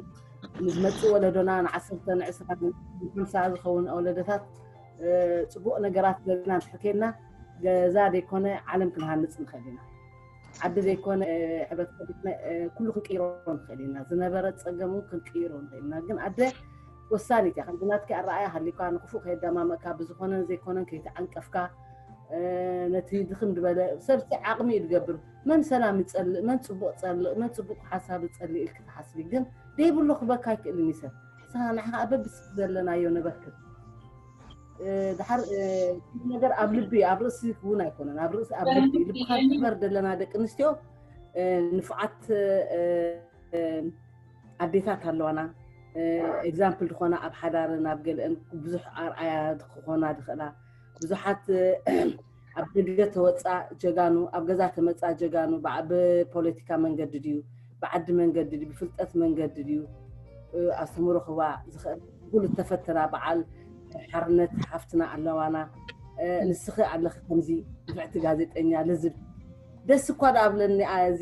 ንዝመፅእ ወለዶና ንዓሰርተ ንዕስራ ንሓምሳ ዝኸውን ወለዶታት ፅቡቅ ነገራት ዘለና እንተሕከልና ገዛ ዘይኮነ ዓለም ክንሃንፅ ንኽእል ኢና ዓዲ ዘይኮነ ሕብረተሰብ ኩሉ ክንቅይሮ ንኽእል ኢና ዝነበረ ፀገም እውን ክንቅይሮ ንኽእል ኢና ግን ኣደ ወሳኒት እያ ከምዚ ናትኪ ኣረኣያ ሃሊኳ ንክፉእ ከየዳማመእካ ብዝኮነን ዘይኮነን ከይተዓንቀፍካ ነቲ ድኽም ዝበለ ሰብ ዓቕሚ እዩ ዝገብር መን ሰላም ይጸልእ መን ጽቡቅ ጸልእ መን ጽቡቅ ሓሳብ ይጸልእ ኢልኪ ትሓስቢ ግን ደይብሉ ክበካ ኣይክእልን እዩ ሰብ ንስኻ ንዓኻ ከኣ በብስ ዘለናዮ ነበርክብ ድሓር እቲ ነገር ኣብ ልቢ እዩ ኣብ ርእሲ እውን ኣይኮነን ኣብ ርእሲ ኣብ ልቢ እዩ። ልብኻ ክበር ዘለና ደቂ ኣንስትዮ እ፣ ንፉዓት እ፣ እ፣ ኣዴታት ኣለዋና ኤግዛምፕል ዝኾና ኣብ ሓዳርን ኣብ ገለአን ብዙሕ ኣርኣያ ክኾና ዝኽእላ ብዙሓት እ፣ ኣብ ደገ ተወጽኣ ጀጋኑ ኣብ ገዛ ተመጽኣ ጀጋኑ ብፖለቲካ መንገዲ ድዩ ብዓዲ መንገዲ ድዩ ብፍልጠት መንገዲ ድዩ ኣስተምሮ ክህባ ዝኽእል ኩሉ ተፈትና በዓል ሓርነት ሓፍትና ኣለዋና ንስኺ ኣለኺ ከምዚ ንፍዕቲ ጋዜጠኛ ልዝብ ደስ እኳ ዳኣብለኒ እዚ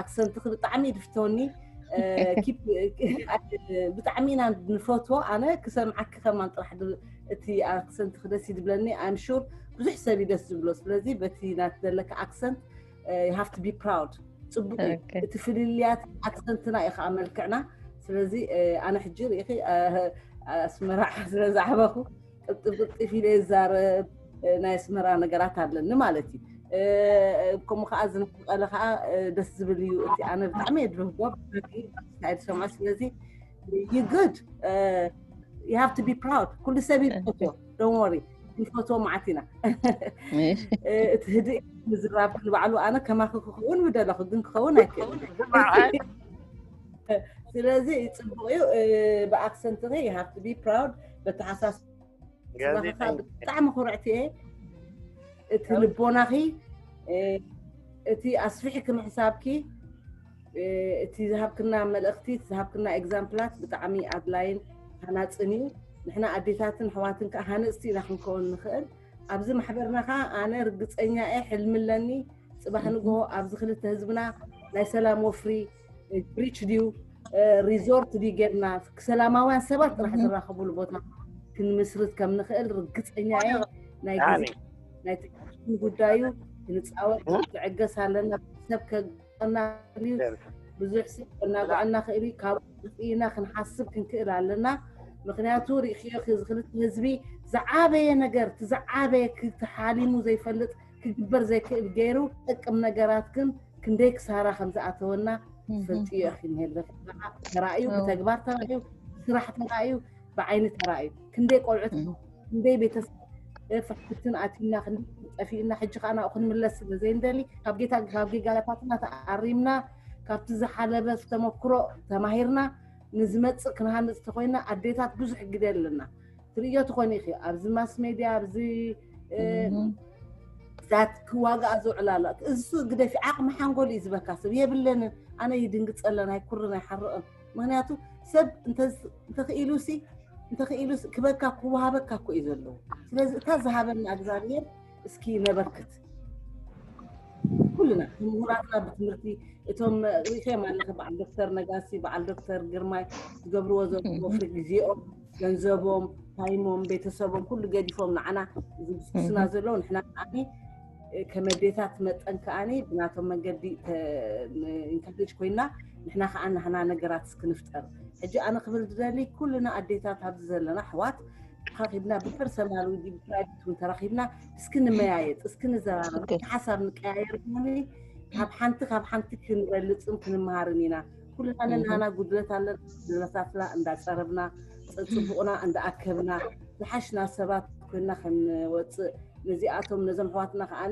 ኣክሰንትኺ ብጣዕሚ እዩ ድፍተወኒ ብጣዕሚ ኢና ንፈትዎ ኣነ ክሰምዓኪ ከማን ጥራሕ እቲ ኣክሰንትኺ ደስ እዩ ድብለኒ ኣም ሹር ብዙሕ ሰብ እዩ ደስ ዝብሎ ስለዚ በቲ ናት ዘለካ ኣክሰንት ሃፍ ቱ ቢ ፕራውድ ፅቡቅ እዩ እቲ ፍልልያት ኣክሰንትና እዩ ከዓ መልክዕና ስለዚ ኣነ ሕጂ ርኢኺ ኣስመራ ስለዝዓበኹ ቅልጥፍ ቅልጥፍ ኢለ ይዛረብ ናይ ኣስመራ ነገራት ኣለኒ ማለት እዩ ከምኡ ከዓ እዚ ንክቀለ ከዓ ደስ ዝብል እዩ እቲ ኣነ ብጣዕሚ እየ ድረህጎ ስታይል ሰማ ስለዚ ዩ ጉድ ዩ ሃቭ ቱ ቢ ፕራውድ ኩሉ ሰብ ይፈቶ ዶን ወሪ ንፈቶ መዓት ኢና እቲ ህድእ ምዝራብ ንባዕሉ ኣነ ከማኺ ክኸውን ምደለኹ ግን ክኸውን ኣይክእል ስለዚ ፅቡቅ እዩ ብኣክሰንትኺ ዩ ሃቭ ቱ ቢ ፕራውድ በተሓሳስባኻ ብጣዕሚ ኩርዕቲ እየ እቲ ልቦናኺ እቲ ኣስፊሕኪ ምሕሳብኪ እቲ ዝሃብክና መልእኽቲ እቲ ዝሃብክና ኤግዛምፕላት ብጣዕሚ ኣድላይን ሃናፅን እዩ ንሕና ኣዴታትን ኣሕዋትን ከዓ ሃነፅቲ ኢና ክንከውን ንኽእል ኣብዚ ማሕበርና ከዓ ኣነ ርግፀኛ እየ ሕልሚ ኣለኒ ፅባሕ ንግሆ ኣብዚ ክልተ ህዝብና ናይ ሰላም ወፍሪ ብሪች ድዩ ሪዞርት ድዩ ጌርና ሰላማውያን ሰባት ጥራሕ ዝራኸብሉ ቦታ ክንምስርት ከም ንኽእል ርግፀኛ እየ ናይ ግዜ ናይ ትዕግስቲ ጉዳይ እዩ ክንፃወት ትዕገስ ኣለና ሰብ ከና እዩ ብዙሕ ሰብ ከናግዐና ክእል እዩ ካብ ኢና ክንሓስብ ክንክእል ኣለና ምክንያቱ ሪእክዮ እዚ ክልተ ህዝቢ ዝዓበየ ነገር እቲ ዝዓበየ ተሓሊሙ ዘይፈልጥ ክግበር ዘይክእል ገይሩ ጥቅም ነገራት ግን ክንደይ ክሳራ ከም ዝኣተወና ፈልጥዮ ኢኺ እንሄለ ተራእዩ ብተግባር ተራእዩ ስራሕ ተራእዩ ብዓይኒ ተራእዩ ክንደይ ቆልዑት ክንደይ ቤተሰብ ፍሕፍትን ኣትዩና ክንደይ ጠፊኡና ሕጂ ከዓ ናብኡ ክንምለስ ስለ ዘይንደሊ ካብ ጌታ ካብ ጌጋላታትና ተኣሪምና ካብቲ ዝሓለበ ተመክሮ ተማሂርና ንዝመፅእ ክንሃንፅ ተኮይና ኣዴታት ብዙሕ ግደ ኣለና ትርእዮ ትኾኒ ኢኺ ኣብዚ ማስ ሜድያ ኣብዚ ዛት ክዋግኣ ዝውዕላ ኣሎ እሱ ግደፊ ዓቕሚ ሓንጎል እዩ ዝበካ ሰብ የብለንን ኣነ ይድንግፀለን ኣይኩርን ኣይሓርቕን ምክንያቱ ሰብ እንተኽኢሉሲ እንተኽኢሉ ክበካ ክወሃበካ እኮ እዩ ዘለዎ ስለዚ እታ ዝሃበና እግዚኣብሔር እስኪ ነበርክት ኩልና ምሁራትና ብትምህርቲ እቶም ሪኸም ኣለኸ በዓል ዶክተር ነጋሲ በዓል ዶክተር ግርማይ ዝገብርዎ ዘለዎ ፍሪ ግዜኦም ገንዘቦም ታይሞም ቤተሰቦም ኩሉ ገዲፎም ንዓና እዚ ዝስኩስና ዘለዉ ንሕና ከዓኒ ከም ኣዴታት መጠን ከዓኒ ብናቶም መንገዲ ኢንካሬጅ ኮይና ንሕና ከዓ ናህና ነገራት እስክንፍጠር ሕጂ ኣነ ክብል ዝደሊ ኩልና ኣዴታት ኣብዚ ዘለና ኣሕዋት ተራኺብና ብፐርሰናል ወይ ብፕራይቬት እውን ተራኺብና እስኪ ንመያየጥ እስኪ ንዘራረብ ሓሳብ ንቀያየር ካብ ሓንቲ ካብ ሓንቲ ክንበልፅን ክንመሃርን ኢና ኩልና ነናና ጉድለት ኣለና ጉድለታትና እንዳፀረብና ፅቡቕና እንዳኣከብና ዝሓሽና ሰባት ኮይና ክንወፅእ ነዚኣቶም ነዞም ኣሕዋትና ከዓ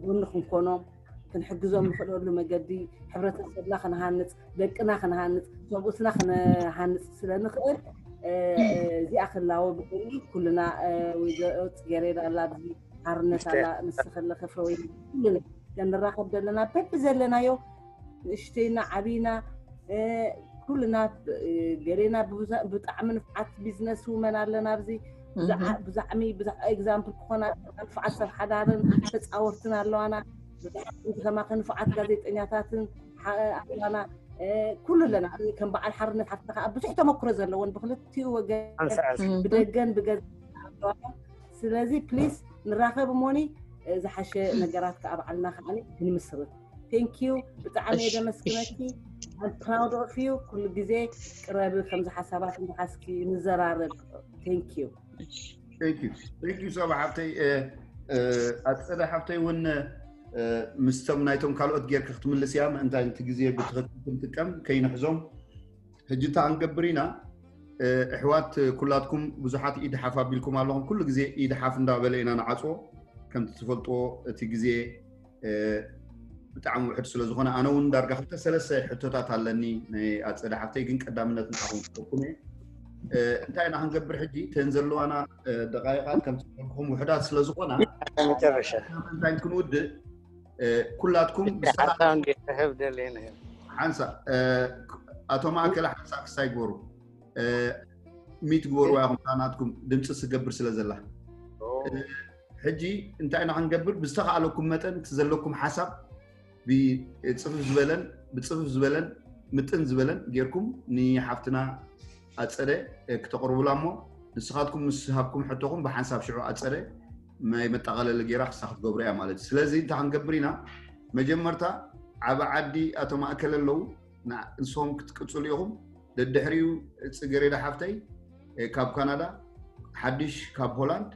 ጎኒ ክንኮኖም ክንሕግዞም ንኽእለሉ መገዲ ሕብረተሰብና ክንሃንፅ ደቅና ክንሃንፅ ሰብኡትና ክንሃንፅ ስለ ንኽእል እዚኣ ክላወ ብጎኒ ኩልና ወይዘሮ ፅጌሬዳ ኣላ ኣብዚ ሓርነት ኣላ ንስኺ ኣለኺ ፈወይ ኩልና ከንራኸብ ዘለና በቢ ዘለናዮ ንእሽተይና ዓብይና ኩልና ገሌና ብጣዕሚ ንፍዓት ቢዝነስ ውመን ኣለና ኣብዚ ብዛዕሚ ኤግዛምፕል ክኾና ንፍዓት ሰብ ሓዳርን ተፃወርትን ኣለዋና ከማኸ ንፍዓት ጋዜጠኛታትን ኣለዋና ኩሉ ኣለና ከም በዓል ሓርነት ሓፍቲ ከዓ ብዙሕ ተመክሮ ዘለዎን ብክልቲኡ ወገን ብደገን ብገዛ ስለዚ ፕሊስ ንራኸብ እሞኒ ዝሓሸ ነገራት ከዓ በዓልና ከዓ ክንምስርት ቴንክ ዩ ብጣዕሚ እየ ዘመስግነኪ ፕራውድ ኦፍ ዩ ኩሉ ግዜ ቅረቢ ከምዚ ሓሳባት እንተሓስኪ ንዘራረብ ቴንክ ዩ ቴንክ ዩ ሰባ ሓብተይ ኣፀደ ሓብተይ እውን ምስቶም ናይቶም ካልኦት ጌርካ ክትምልስ እያ ምእንታይ እቲ ግዜ ብትኽክል ክንጥቀም ከይንሕዞም ሕጂ እታ ክንገብር ኢና እሕዋት ኩላትኩም ብዙሓት ኢድ ሓፍ ኣቢልኩም ኣለኹም ኩሉ ግዜ ኢድ ሓፍ እንዳበለ ኢና ንዓፅዎ ከምቲ ትፈልጥዎ እቲ ግዜ ብጣዕሚ ውሕድ ስለ ዝኾነ ኣነ እውን ዳርጋ ክልተ ሰለስተ ሕቶታት ኣለኒ ናይ ኣፀደ ሓፍተይ ግን ቀዳምነት ንዓኹም ክጠቁም እየ እንታይ ኢና ክንገብር ሕጂ ተን ዘለዋና ደቃይቃት ከምቲ ውሕዳት ስለ ዝኾና እንታይ ክንውድእ ኩላትኩም ሓንሳ ኣቶ ማእከለ ሓንሳ ክሳይ ግበሩ ሚት ግበሩ ኢኹም ናትኩም ድምፂ ስገብር ስለ ዘላ ሕጂ እንታይ ኢና ክንገብር ብዝተኸኣለኩም መጠን እቲ ዘለኩም ሓሳብ ብፅፍፍ ዝበለን ብፅፍፍ ዝበለን ምጥን ዝበለን ጌርኩም ንሓፍትና ኣፀደ ክተቕርቡላ እሞ ንስኻትኩም ምስ ሃብኩም ሕቶኹም ብሓንሳብ ሽዑ ኣፀደ ናይ መጠቓለሊ ገይራ ክሳ ክትገብሮ እያ ማለት እዩ ስለዚ እንታይ ክንገብር ኢና መጀመርታ ዓበ ዓዲ ኣቶ ማእከል ኣለዉ ንሶም ክትቅፅሉ ኢኹም ደድሕሪኡ ፅገሬዳ ሓፍተይ ካብ ካናዳ ሓድሽ ካብ ሆላንድ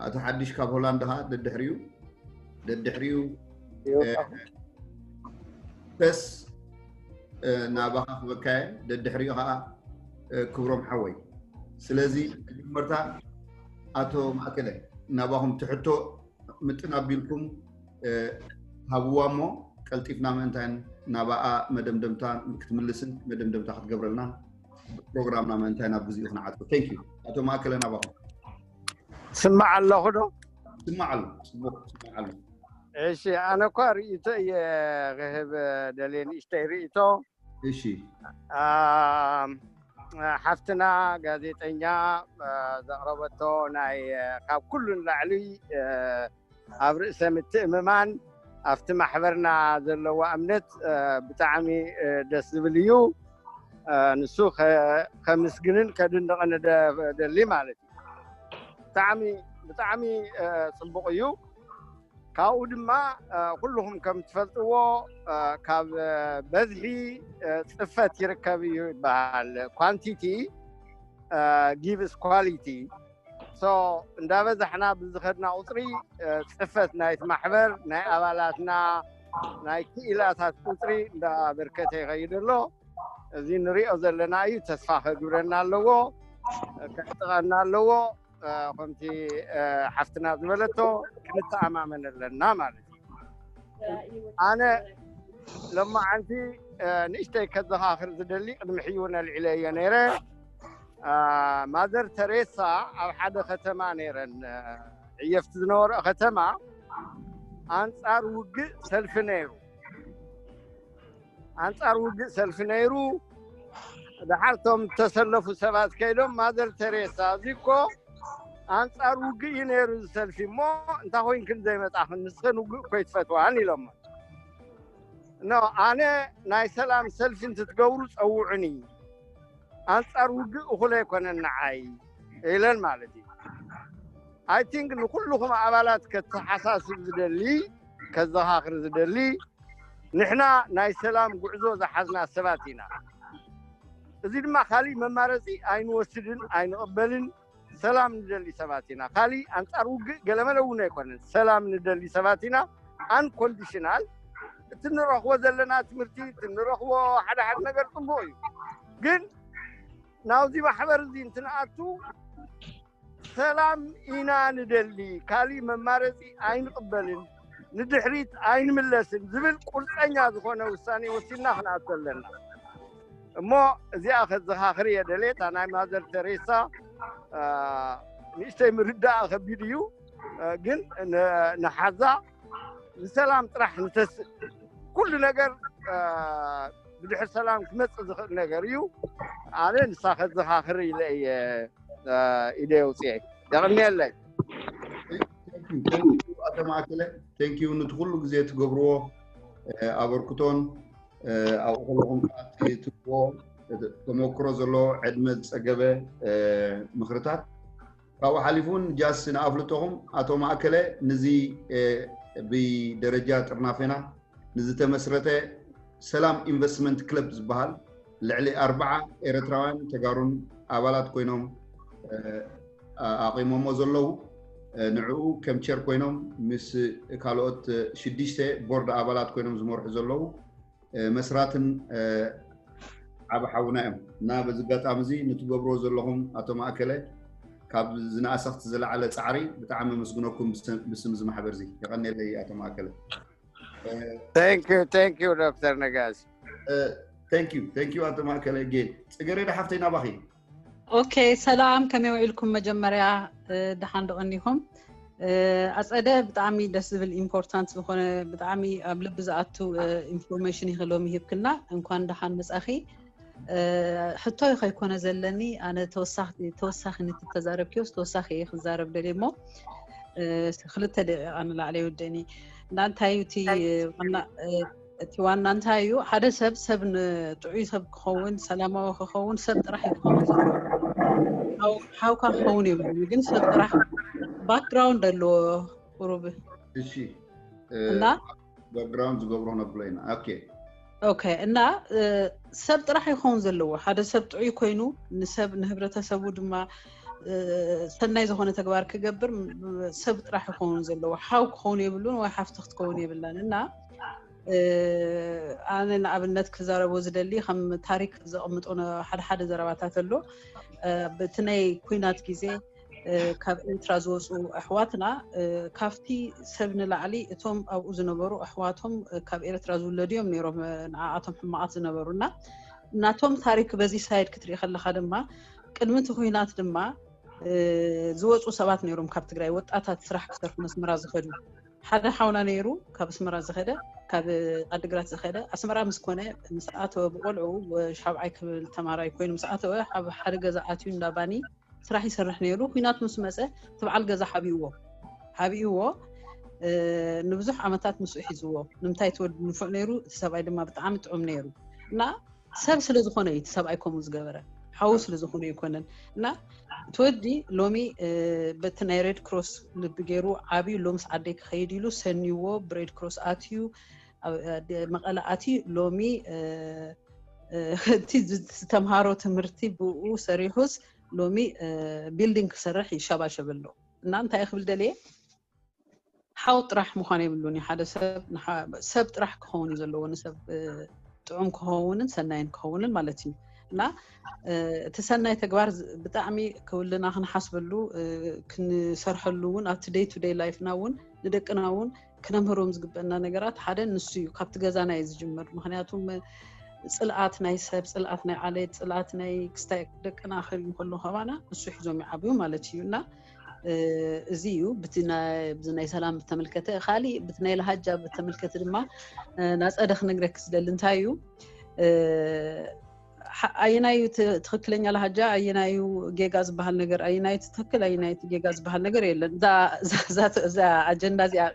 ኣቶ ሓድሽ ካብ ሆላንድ ከዓ ደድሕሪኡ ደድሕሪኡ ተስ ናባኻ ክበካየ ደድሕሪኡ ከዓ ክብሮም ሓወይ ስለዚ መጀመርታ ኣቶ ማእከለ ናባኹም ትሕቶ ምጥን ኣቢልኩም ሃብዋ እሞ ቀልጢፍና ምእንታይ ናባኣ መደምደምታ ክትምልስን መደምደምታ ክትገብረልና ፕሮግራምና ምእንታይ ናብ ግዜኡ ክንዓፅብ ቴንክ ዩ ኣቶ ማእከለ ናባኹም ስማዕ ኣለኹ ዶ ስማዕ ኣሎ ፅቡቅ ስማዕ ኣሎ እሺ ኣነ እኳ ርእይቶ እየ ክህብ ደልየ ንእሽተይ ርእይቶ እሺ ኣም፣ ሓፍትና ጋዜጠኛ አ፣ ዘቕረበቶ ናይ አ፣ ካብ ኩሉ ንላዕሊ አ፣ ኣብ ርእሰ ምትእምማን ኣብቲ ማሕበርና ዘለዋ እምነት አ፣ ብጣዕሚ አ፣ ደስ ዝብል እዩ አ፣ ንሱ ከ- ከምስግንን ከድንቕን እደ- እደሊ ማለት እዩ ብጣዕሚ ብጣዕሚ አ፣ ፅቡቕ እዩ ካብኡ ድማ ኩልኹም ከም ትፈልጥዎ ካብ በዝሒ ፅፈት ይርከብ እዩ ይበሃል ኳንቲቲ ጊቭስ ኳሊቲ እንዳበዛሕና ብዝኸድና ቁፅሪ ፅፈት ናይቲ ማሕበር ናይ ኣባላትና ናይ ክኢላታት ቁፅሪ እንዳበርከተ ይኸይድ ኣሎ እዚ ንሪኦ ዘለና እዩ ተስፋ ከግብረና ኣለዎ ከዕጥቐና ኣለዎ ከምቲ ሓፍትና ዝበለቶ ክንተኣማመን ኣለና ማለት እዩ ኣነ ሎማዓንቲ ንእሽተይ ከዘኻኽር ዝደሊ ቅድሚ ሕጂ እውን ኣልዒለ እየ ነይረ ማዘር ተሬሳ ኣብ ሓደ ከተማ ነይረን ዕየፍቲ ዝነበረኦ ከተማ ኣንፃር ውግእ ሰልፊ ነይሩ ኣንጻር ውግእ ሰልፊ ነይሩ ድሓር እቶም ዝተሰለፉ ሰባት ከይዶም ማዘር ተሬሳ እዚ እኮ ኣንጻር ውግእ እዩ ነይሩ ዝሰልፊ እሞ እንታይ ኮይንክን ዘይመጣኽን ንስኽን ውግእ እኮ ይትፈትዋን ኢሎሞ ኖ ኣነ ናይ ሰላም ሰልፊ እንትትገብሩ ፀውዑኒ ኣንጻር ውግእ እኹለ ኣይኮነን ንዓይ ኢለን ማለት እዩ I think ንኹሉኹም ኣባላት ከተሓሳስብ ዝደሊ ከዘኻኽር ዝደሊ ንሕና ናይ ሰላም ጉዕዞ ዝሓዝና ሰባት ኢና እዚ ድማ ካሊእ መማረፂ ኣይንወስድን ኣይንቕበልን ሰላም ንደሊ ሰባት ኢና ካሊእ ኣንፃር ውግእ ገለመለ እውን ኣይኮነን ሰላም ንደሊ ሰባት ኢና ኣንኮንዲሽናል እቲ ንረኽቦ ዘለና ትምህርቲ እቲ ንረኽቦ ሓደ ሓደ ነገር ፅቡቅ እዩ ግን ናብዚ ማሕበር እዚ እንትንኣቱ ሰላም ኢና ንደሊ ካሊእ መማረፂ ኣይንቕበልን ንድሕሪት ኣይንምለስን ዝብል ቁርፀኛ ዝኾነ ውሳኔ ወሲድና ክንኣቶ ኣለና እሞ እዚኣ ከዘኻኽር እየ ደልየ እታ ናይ ማዘር ተሬሳ ንእሽተይ ምርዳእ ከቢድ እዩ ግን ንሓዛ ንሰላም ጥራሕ ንተስእ ኩሉ ነገር ብድሕር ሰላም ክመፅእ ዝኽእል ነገር እዩ ኣነ ንሳ ከዘኻኽር ኢለ እየ ኢደ የውፅኤ የቕንየለይ ኣቶ ማእከለ ቴንኪዩ ንቲ ኩሉ ግዜ ትገብርዎ ኣበርክቶን ኣብኡ ከለኹም ከዓ ትህብዎ ተመክሮ ዘለዎ ዕድመ ዝፀገበ ምኽርታት ካብኡ ሓሊፉ ውን ጃስ ንኣፍልጦኹም ኣቶ ማእከለ ንዚ ብደረጃ ጥርናፌና ንዝተመስረተ ሰላም ኢንቨስትመንት ክለብ ዝባሃል ልዕሊ ኣርባዓ ኤረትራውያን ተጋሩን ኣባላት ኮይኖም ኣቚሞሞ ዘለዉ ንዕኡ ከም ቸር ኮይኖም ምስ ካልኦት ሽዱሽተ ቦርድ ኣባላት ኮይኖም ዝመርሑ ዘለዉ መስራትን ዓብ ሓውና እዮም እና በዚ ኣጋጣሚ እዚ ንትገብሮ ዘለኹም ኣቶ ማእከለ ካብ ዝነኣሰ ክቲ ዝለዓለ ፃዕሪ ብጣዕሚ ኣመስግነኩም ብስም እዚ ማሕበር እዚ የቐኔለይ ኣቶ ማእከለ ቴንኪዩ ዶክተር ነጋሲ ቴንኪዩ ቴንኪዩ ኣቶ ማእከለ ጌ ፅገሬዳ ሓፍተይ ናባኺ ኦኬ ሰላም ከመይ ውዒልኩም መጀመርያ ደሓን ዶ ቀኒኹም ኣፀደ ብጣዕሚ ደስ ዝብል ኢምፖርታንት ዝኾነ ብጣዕሚ ኣብ ልቢ ዝኣቱ ኢንፎርሜሽን ኢኺ ሎሚ ሂብክና እንኳን ደሓን መፃኺ ሕቶ ከይኮነ ዘለኒ ኣነ ተወሳኺ ንቲ ተዛረብክዮስ ተወሳኺ እየ ክዛረብ ደልየ እሞ ክልተ ደቂቃ ንላዕለ ይውደእኒ እና እንታይ እዩ እቲ ዋና እቲ ዋና እንታይ እዩ ሓደ ሰብ ሰብ ንጥዑይ ሰብ ክኸውን ሰላማዊ ክኸውን ሰብ ጥራሕ እዩ ክኸውን ዘለዎ ሓውካ ክኸውን የብሉ ግን ሰብ ጥራሕ ባክግራውንድ ኣለዎ ቁሩብ እሺ እና ባክግራውንድ ዝገብሮ ነብሎ ኢና ኦኬ ኦኬ እና ሰብ ጥራሕ ይኸውን ዘለዎ ሓደ ሰብ ጥዑይ ኮይኑ ንሰብ ንህብረተሰቡ ድማ ሰናይ ዝኾነ ተግባር ክገብር ሰብ ጥራሕ ይኸውን ዘለዎ ሓው ክኸውን የብሉን ወይ ሓፍቲ ክትከውን የብላን እና ኣነ ንኣብነት ክዛረቦ ዝደሊ ከም ታሪክ ዘቕምጦ ሓደ ሓደ ዘረባታት ኣሎ በቲ ናይ ኩናት ግዜ ካብ ኤርትራ ዝወፁ ኣሕዋትና ካብቲ ሰብ ንላዕሊ እቶም ኣብኡ ዝነበሩ ኣሕዋቶም ካብ ኤርትራ ዝውለዱ እዮም ነይሮም ንዓኣቶም ሕማቓት ዝነበሩ እና ናቶም ታሪክ በዚ ሳይድ ክትርኢ ከለካ ድማ ቅድሚ እቲ ኩናት ድማ ዝወፁ ሰባት ነይሮም ካብ ትግራይ ወጣታት ስራሕ ክሰርሑ መስመራ ዝኸዱ ሓደ ሓውና ነይሩ ካብ ኣስመራ ዝኸደ ካብ ዓዲግራት ዝኸደ ኣስመራ ምስ ኮነ ምስ ኣተወ ብቆልዑ ሻብዓይ ክብል ተማራይ ኮይኑ ምስ ኣተወ ኣብ ሓደ ገዛ ኣትዩ እንዳ ባኒ ስራሕ ይሰርሕ ነይሩ ኩናት ምስ መፀ ትብዓል ገዛ ሓቢእዎ ሓቢእዎ ንብዙሕ ዓመታት ምስኡ ሒዝዎ ንምንታይ ትወድ ንፉዕ ነይሩ እቲ ሰብኣይ ድማ ብጣዕሚ ጥዑም ነይሩ እና ሰብ ስለ ዝኾነ እዩ ሰብኣይ ከምኡ ዝገበረ ሓዉ ስለ ዝኾነ ይኮነን እና ትወዲ ሎሚ በቲ ናይ ሬድ ክሮስ ልቢ ገይሩ ዓብዩ ሎምስ ዓደይ ክኸይድ ኢሉ ሰኒዎ ብሬድ ክሮስ ኣትዩ መቐለ ኣትዩ ሎሚ እቲ ዝተምሃሮ ትምህርቲ ብኡ ሰሪሑስ ሎሚ ቢልዲንግ ክሰርሕ ይሸባሸብ ኣሎ እና እንታይ ክብል ደልየ ሓው ጥራሕ ምዃን የብሉን እዩ ሓደ ሰብ ሰብ ጥራሕ ክኸውን እዩ ዘለዎ ንሰብ ጥዑም ክኸውንን ሰናይን ክኸውንን ማለት እዩ እና እቲ ሰናይ ተግባር ብጣዕሚ ክውልና ክንሓስበሉ ክንሰርሐሉ እውን ኣብቲ ደይ ቱ ደይ ላይፍና እውን ንደቅና እውን ክነምህሮም ዝግበና ነገራት ሓደ ንሱ እዩ ካብቲ ገዛና እዩ ዝጅምር ምክንያቱም ፅልኣት ናይ ሰብ ፅልኣት ናይ ዓሌት ፅልኣት ናይ ክስታይ ደቅና ክህል ከሎ ከባና ንሱ ሒዞም ይዓብዩ ማለት እዩ እና እዚ እዩ ብቲ ናይ ሰላም ብተመልከተ ካሊእ ብቲ ናይ ልሃጃ ብተመልከተ ድማ ናፀደ ክነግረክ ዝደሊ እንታይ እዩ ኣየናዩ ትክክለኛ ልሃጃ ኣየናዩ ጌጋ ዝበሃል ነገር ኣየናዩ ትክክል ኣየናዩ ጌጋ ዝበሃል ነገር የለን እዛ ኣጀንዳ እዚኣ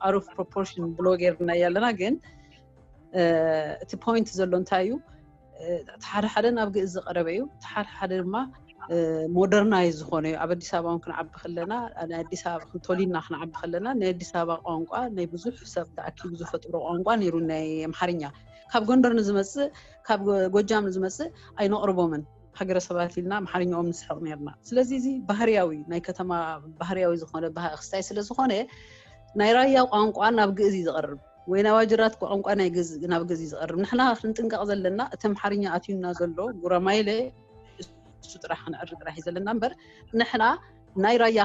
ኣሩፍ ፕሮፖርሽን ብሎ ጌርናያ ኣለና ግን እቲ ፖይንት ዘሎ እንታይ እዩ እቲ ሓደ ሓደ ናብ ግእዝ ዝቐረበ እዩ እቲ ሓደ ሓደ ድማ ሞደርናይ ዝኾነ እዩ ኣብ ኣዲስ ኣበባ እውን ክንዓቢ ከለና ናይ ኣዲስ ኣበባ ክንተሊና ክንዓቢ ከለና ናይ ኣዲስ ኣበባ ቋንቋ ናይ ብዙሕ ሰብ ተኣኪቡ ዝፈጥሮ ቋንቋ ነይሩ ናይ ኣምሓርኛ ካብ ጎንደር ንዝመፅእ ካብ ጎጃም ንዝመፅእ ኣይነቕርቦምን ሃገረሰባት ኢልና ኣምሓርኛኦም ንስሕቕ ነርና ስለዚ እዚ ባህርያዊ ናይ ከተማ ባህርያዊ ዝኾነ ክስታይ ስለ ዝኾነ ናይ ራያ ቋንቋ ናብ ግእዝ እዩ ዝቐርብ ወይ ናብ ኣጅራት ቋንቋ ናይ ግእዝ ናብ ግእዝ እዩ ዝቐርብ። ንሕና ክንጥንቀቕ ዘለና እቲ ኣምሓርኛ ኣትዩና ዘሎ ጉራማይለ እሱ ጥራሕ ክንዕሪ ጥራሕ እዩ ዘለና እምበር ንሕና ናይ ራያ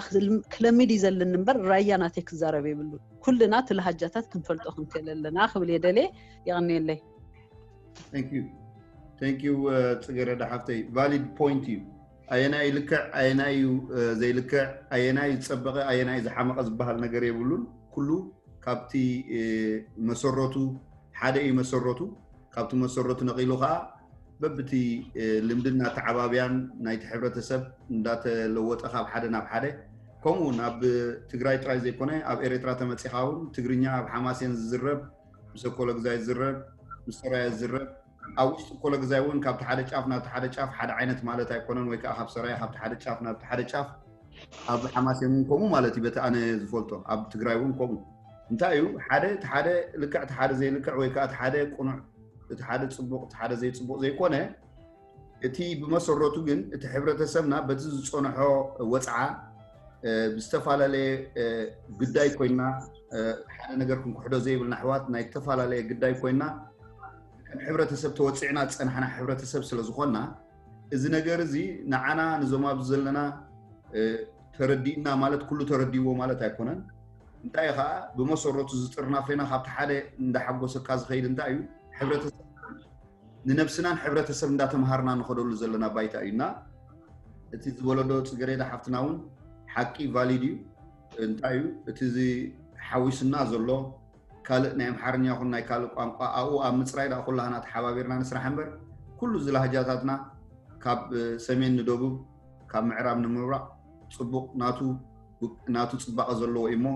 ክለሚድ እዩ ዘለኒ እምበር ራያ ናተይ ክዛረብ የብሉ ኩልና እቲ ልሃጃታት ክንፈልጦ ክንክእል ኣለና ክብል እየ ደልየ የቐንየለይ ዩ ፅገረዳ ሓፍተይ ቫሊድ ፖይንት እዩ ኣየናይ ልክዕ ኣየናይ እዩ ዘይልክዕ ኣየናይ ዝፀበቐ ኣየናይ ዝሓመቐ ዝበሃል ነገር የብሉን ኩሉ ካብቲ መሰረቱ ሓደ እዩ መሰረቱ ካብቲ መሰረቱ ነቒሉ ከዓ በብቲ ልምድን እናተዓባብያን ናይቲ ሕብረተሰብ እንዳተለወጠ ካብ ሓደ ናብ ሓደ ከምኡ እውን ኣብ ትግራይ ጥራይ ዘይኮነ ኣብ ኤርትራ ተመፂኻ እውን ትግርኛ ኣብ ሓማሴን ዝዝረብ ምስ ኣኮለግዛይ ዝዝረብ ምስ ሰራየ ዝዝረብ ኣብ ውሽጢ ኮለግዛይ እውን ካብቲ ሓደ ጫፍ ናብቲ ሓደ ጫፍ ሓደ ዓይነት ማለት ኣይኮነን ወይ ከዓ ካብ ሰራየ ካብቲ ሓደ ጫፍ ናብቲ ሓደ ጫፍ ኣብዚ ሓማሴን እውን ከምኡ ማለት እዩ በቲ ኣነ ዝፈልጦ ኣብ ትግራይ እውን ከምኡ እንታይ እዩ ሓደ እቲ ሓደ ልክዕ እቲ ሓደ ዘይልክዕ ወይ ከዓ እቲ ሓደ ቁኑዕ እቲ ሓደ ፅቡቅ እቲ ሓደ ዘይፅቡቅ ዘይኮነ እቲ ብመሰረቱ ግን እቲ ሕብረተሰብና በቲ ዝፀንሖ ወፅዓ ብዝተፈላለየ ግዳይ ኮይና ሓደ ነገር ክንክሕዶ ዘይብልና ኣሕዋት ናይ ዝተፈላለየ ግዳይ ኮይና ከም ሕብረተሰብ ተወፂዕና ዝፀናሕና ሕብረተሰብ ስለ ዝኾና እዚ ነገር እዚ ንዓና ንዞም ኣብዚ ዘለና ተረዲእና ማለት ኩሉ ተረዲእዎ ማለት ኣይኮነን እንታይ ከዓ ብመሰረቱ ዝጥርናፈና ካብቲ ሓደ እንዳሓጎሰካ ዝኸይድ እንታይ እዩ ሕብረተሰብ ንነብስናን ሕብረተሰብ እንዳተምሃርና ንኸደሉ ዘለና ባይታ እዩ እና እቲ ዝበለዶ ፅገሬዳ ሓፍትና እውን ሓቂ ቫሊድ እዩ እንታይ እዩ እቲ ሓዊስና ዘሎ ካልእ ናይ ኣምሓርኛ ይኹን ናይ ካልእ ቋንቋ ኣብኡ ኣብ ምፅራይ ዳ ኩላህና ተሓባቢርና ንስራሕ እምበር ኩሉ እዚ ላህጃታትና ካብ ሰሜን ንደቡብ ካብ ምዕራብ ንምብራቕ ፅቡቕ ናቱ ናቱ ፅባቐ ዘለዎ እዩ እሞ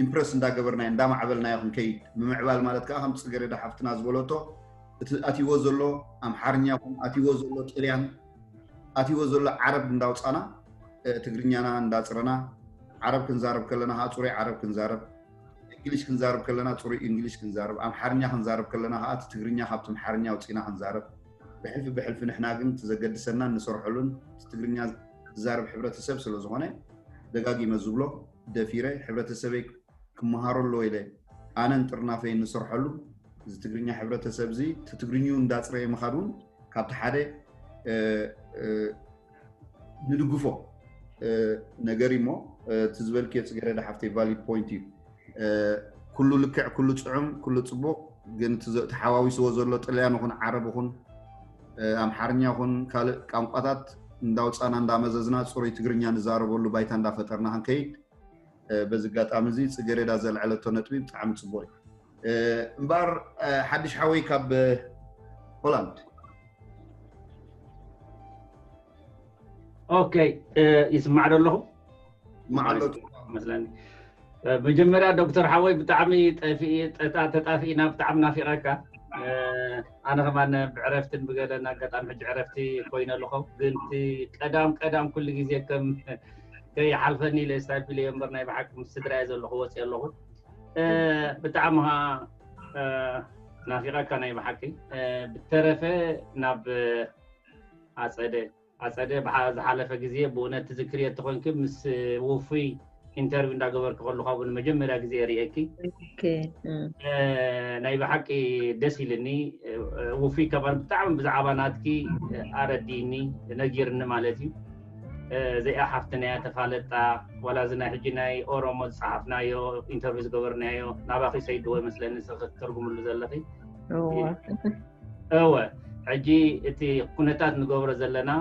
ኢምፕረስ እንዳገበርናዮ እንዳማዕበልናዮ ክንከይድ ምምዕባል ማለት ከዓ ከም ፅገሬዳ ሓፍትና ዝበለቶ እቲ ኣትይዎ ዘሎ ኣምሓርኛ ይኹን ኣትይዎ ዘሎ ጥልያን ኣትይዎ ዘሎ ዓረብ እንዳውፃና ትግርኛና እንዳፅረና ዓረብ ክንዛረብ ከለና ከዓ ፅሩይ ዓረብ ክንዛረብ እንግሊሽ ክንዛረብ ከለና ፅሩይ እንግሊሽ ክንዛረብ ኣምሓርኛ ክንዛረብ ከለና ከዓ እቲ ትግርኛ ካብቲ ኣምሓርኛ ኣውፂና ክንዛረብ ብሕልፊ ብሕልፊ ንሕና ግን እቲ ዘገድሰናን ንሰርሐሉን እቲ ትግርኛ ዝዛረብ ሕብረተሰብ ስለዝኾነ ደጋጊመ ዝብሎ ደፊረ ሕብረተሰበይ ክመሃሮ ኣለዎ ኢለ ኣነን ጥርናፈይን ንሰርሐሉ እዚ ትግርኛ ሕብረተሰብ እዚ ትትግርኝኡ እንዳፅረየ ምኻድ እውን ካብቲ ሓደ ንድግፎ ነገር እሞ እቲ ዝበልክዮ ፅገረዳ ሓፍተይ ቫሊድ ፖይንት እዩ ኩሉ ልክዕ ኩሉ ፅዑም ኩሉ ፅቡቕ ግን ተሓዋዊስዎ ዘሎ ጥልያን ይኹን ዓረብ ይኹን ኣምሓርኛ ይኹን ካልእ ቋንቋታት እንዳውፃና እንዳመዘዝና ፅሩይ ትግርኛ ንዛረበሉ ባይታ እንዳፈጠርና ክንከይድ በዚ ኣጋጣሚ እዚ ፅጌሬዳ ዘልዐለቶ ነጥቢ ብጣዕሚ ፅቡቅ እዩ እምበኣር ሓድሽ ሓወይ ካብ ሆላንድ ኦኬይ ይስማዕ ዶ ኣለኹ ይስማዕ ኣሎ መስለኒ መጀመርያ ዶክተር ሓወይ ብጣዕሚ ተጣፊእና ብጣዕሚ ናፊቐካ ኣነ ከማን ብዕረፍትን ብገለን ኣጋጣሚ ሕጂ ዕረፍቲ ኮይነ ኣለኹ ግን እቲ ቀዳም ቀዳም ኩሉ ግዜ ከም ከይሓልፈኒ ኢለ ስታይፕ ኢለዮ እምበር ናይ ብሓቂ ምስ ስድራ እየ ዘለኹ ወፅየ ኣለኹ ብጣዕሚ ኸዓ ናፊቐካ ናይ ብሓቂ ብተረፈ ናብ ኣፀደ ኣፀደ ዝሓለፈ ግዜ ብእውነት ትዝክርዮ እተኾይንኪ ምስ ውፉይ ኢንተርቪው እንዳገበርኪ ከለኹ ኣብኡ ንመጀመርያ ግዜ ርእየኪ ናይ ብሓቂ ደስ ኢልኒ ውፉይ ከማን ብጣዕሚ ብዛዕባ ናትኪ ኣረዲእኒ ነጊርኒ ማለት እዩ እዚኣ ሓፍትና እያ ተፋለጣ ዋላ እዚ ናይ ሕጂ ናይ ኦሮሞ ዝፀሓፍናዮ ኢንተርቪው ዝገበርናዮ ናባኺ ሰይድዎ ይመስለኒ ንስኺ ክትተርጉምሉ ዘለኺ እወ ሕጂ እቲ ኩነታት ንገብሮ ዘለና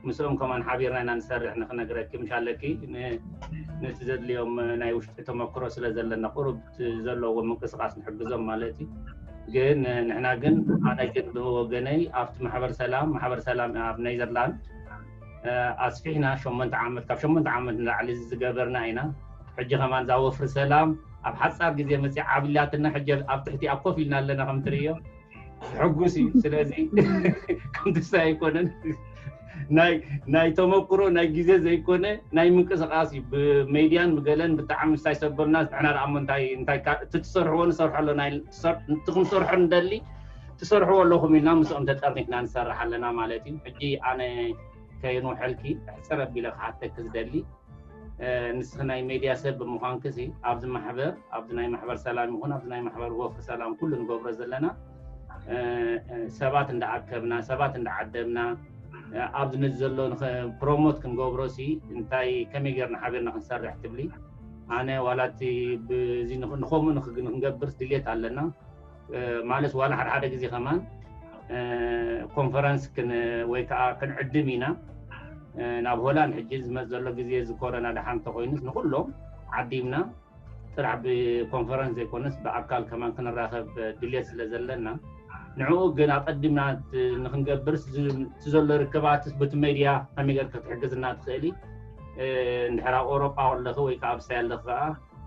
ምስኦም ከማን ሓቢርና ኢና ንሰርሕ ንክነግረኪ ምሽ ኣለኪ ነቲ ዘድልዮም ናይ ውሽጢ ተመክሮ ስለ ዘለና ቁሩብ ዘለዎ ምንቅስቃስ ንሕግዞም ማለት እዩ ግን ንሕና ግን ኣነ ግን ብወገነይ ኣብቲ ማሕበር ሰላም ማሕበር ሰላም ኣብ ኔዘርላንድ ኣስፊሕና ሸሞንተ ዓመት ካብ ሸሞንተ ዓመት ንላዕሊ ዝገበርና ኢና ሕጂ ከማን እዛ ወፍሪ ሰላም ኣብ ሓጻር ግዜ መጽያ ዓብላትና ሕጂ ኣብ ትሕቲኣ ኮፍ ኢልና ኣለና ከም ትርእዮ ሕጉስ እዩ ስለዚ ከምትሳ ኣይኮነን ናይ ተመክሮ ናይ ግዜ ዘይኮነ ናይ ምንቅስቃስ እዩ ብሜድያን ብገለን ብጣዕሚ ምስታይ ሰበብና ንሕና ደኣ እሞ እንታይ እቲ ትሰርሕዎ ንሰርሖ ኣለና እቲ ክንሰርሖ ንደሊ ትሰርሕዎ ኣለኹም ኢልና ምስኦም ተጠርኒፍና ንሰርሕ ኣለና ማለት እዩ። ሕጂ ኣነ ከይንውሐልኪ ሕጽር ኣቢለ ክሓተኪ ዝደሊ ንስኺ ናይ ሜድያ ሰብ ብምዃንኪ ኣብዚ ማሕበር ኣብዚ ናይ ማሕበር ሰላም ይኹን ኣብዚ ናይ ማሕበር ወፍሪ ሰላም ኩሉ ንገብሮ ዘለና ሰባት እንዳኣከብና ሰባት እንዳዓደምና ኣብዚ ነዚ ዘሎ ፕሮሞት ክንገብሮ ሲ እንታይ ከመይ ጌርና ሓቢርና ክንሰርሕ ትብሊ ኣነ ዋላ እቲ ብዚ ንከምኡ ንክንገብር ድሌት ኣለና ማለት ዋላ ሓደ ሓደ ግዜ ከማን ኮንፈረንስ ወይ ከዓ ክንዕድም ኢና ናብ ሆላንድ ሕጂ ዝመፅ ዘሎ ግዜ እዚ ኮረና ድሓን እንተኮይኑስ ንኩሎም ዓዲምና ጥራሕ ብኮንፈረንስ ዘይኮነስ ብኣካል ከማን ክንራኸብ ድልየት ስለ ዘለና ንዕኡ ግን ኣቀዲምና ንክንገብርስ እቲ ዘሎ ርክባት በቲ ሜድያ ከመይ ጌር ክትሕግዝና ትኽእሊ እንድሕር ኣብ ኣውሮጳ ኣለኺ ወይ ከዓ ኣብ ሳይ ኣለኺ ከዓ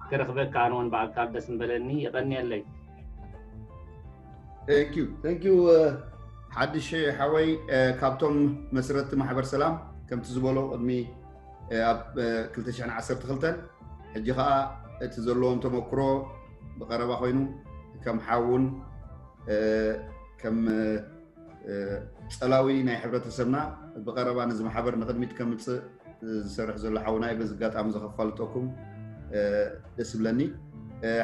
ክረክበካ ኣነ ውን ብኣካል ደስ ምበለኒ የቀንየለይ። ቴንኪዩ ቴንኪዩ ሓድሽ ሓወይ ካብቶም መስረቲ ማሕበር ሰላም ከምቲ ዝበሎ ቅድሚ ኣብ 212 ሕጂ ከዓ እቲ ዘለዎም ተመክሮ ብቀረባ ኮይኑ ከም ሓውን ከም ፀላዊ ናይ ሕብረተሰብና ብቀረባ ነዚ ማሕበር ንቅድሚት ከምፅእ ዝሰርሕ ዘሎ ሓውና እዩ በዚ ኣጋጣሚ ዘኸፋልጠኩም ደስ ብለኒ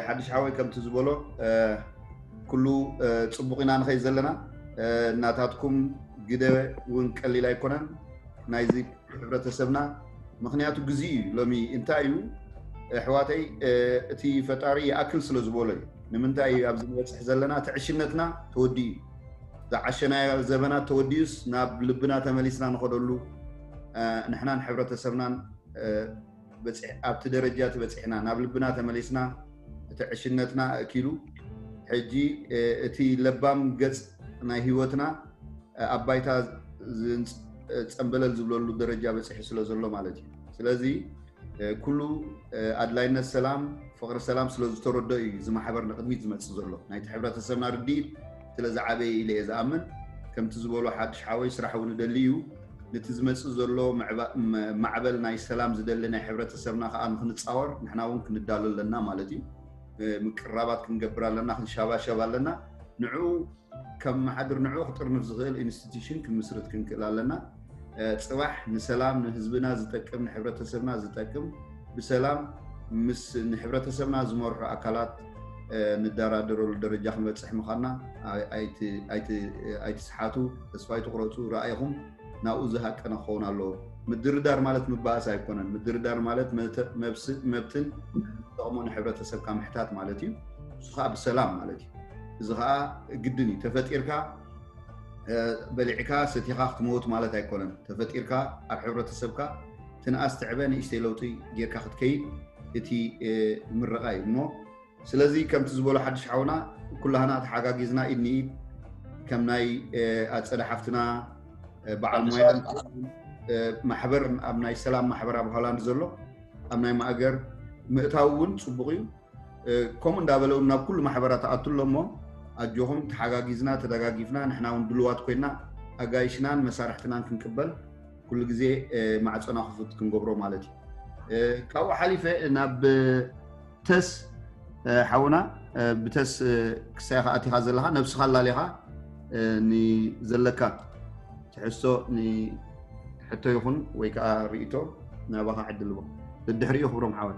ሓድሽ ሓወይ ከምቲ ዝበሎ ኩሉ ፅቡቅ ኢና ንኸይ ዘለና እናታትኩም ግደ እውን ቀሊል ኣይኮነን ናይዚ ሕብረተሰብና ምክንያቱ ግዜ እዩ ሎሚ እንታይ እዩ ኣሕዋተይ እቲ ፈጣሪ ይኣክል ስለ ዝበሎ እዩ ንምንታይ እዩ ኣብዚ ንበፅሕ ዘለና ትዕሽነትና ተወዲኡ እዩ ዝዓሸናዮ ዘበናት ተወዲኡስ ናብ ልብና ተመሊስና ንኸደሉ ንሕናን ሕብረተሰብናን ኣብቲ ደረጃ እቲ በፂሕና ናብ ልብና ተመሊስና እቲ ዕሽነትና ኣእኪሉ ሕጂ እቲ ለባም ገፅ ናይ ህይወትና ኣብ ባይታ ፀምበለል ዝብለሉ ደረጃ በፂሑ ስለ ዘሎ ማለት እዩ ስለዚ ኩሉ ኣድላይነት ሰላም ፍቕሪ ሰላም ስለ ዝተረድኦ እዩ እዚ ማሕበር ንቕድሚት ዝመፅእ ዘሎ ናይቲ ሕብረተሰብና ርድኢት ስለ ዝዓበየ ኢለ እየ ዝኣምን ከምቲ ዝበሎ ሓድሽ ሓወይ ስራሕ እውን እደሊ እዩ ነቲ ዝመፅእ ዘሎ ማዕበል ናይ ሰላም ዝደሊ ናይ ሕብረተሰብና ከዓ ንክንፃወር ንሕና እውን ክንዳሎ ኣለና ማለት እዩ ምቅራባት ክንገብር ኣለና ክንሸባሸብ ኣለና ንዕኡ ከመሓድር ንዕኡ ክጥርንፍ ዝኽእል ኢንስቲትዩሽን ክምስርት ክንክእል ኣለና። ፅባሕ ንሰላም ንህዝብና ዝጠቅም ንሕብረተሰብና ዝጠቅም ብሰላም ምስ ንሕብረተሰብና ዝመርሑ ኣካላት ንደራደረሉ ደረጃ ክንበፅሕ ምዃንና ኣይትስሓቱ፣ ተስፋ ኣይትቑረፁ፣ ራእይኹም ናብኡ ዝሃቀነ ክኸውን ኣለዎ። ምድርዳር ማለት ምባእስ ኣይኮነን። ምድርዳር ማለት መብትን ዝጠቕሞ ንሕብረተሰብካ ምሕታት ማለት እዩ። ንሱ ከዓ ብሰላም ማለት እዩ። እዚ ከዓ ግድን እዩ ተፈጢርካ በሊዕካ ሰቲኻ ክትመውት ማለት ኣይኮነን ተፈጢርካ ኣብ ሕብረተሰብካ ትንኣስ ትዕበ ንእሽተይ ለውጢ ጌርካ ክትከይድ እቲ ምረቃ እዩ እሞ ስለዚ ከምቲ ዝበሎ ሓድሽ ሓውና ኩላህና ተሓጋጊዝና ኢድ ንኢድ ከም ናይ ኣፀደ ሓፍትና በዓል ሞያ ማሕበር ኣብ ናይ ሰላም ማሕበር ኣብ ሆላንድ ዘሎ ኣብ ናይ ማእገር ምእታው እውን ፅቡቅ እዩ ከምኡ እንዳበለ እውን ናብ ኩሉ ማሕበራት ኣቱ ኣሎ እሞ ኣጆኹም ተሓጋጊዝና ተደጋጊፍና ንሕና እውን ድልዋት ኮይና ኣጋይሽናን መሳርሕትናን ክንቅበል ኩሉ ግዜ ማዕፀና ክፉት ክንገብሮ ማለት እዩ ካብኡ ሓሊፈ ናብ ተስ ሓውና ብተስ ክሳይ ከዓ ኣቲኻ ዘለካ ነብስኻ ኣላሊኻ ንዘለካ ትሕዝቶ ንሕቶ ይኹን ወይ ከዓ ርእቶ ናባኻ ዕድልዎ ድድሕሪኡ ክብሮም ሓወይ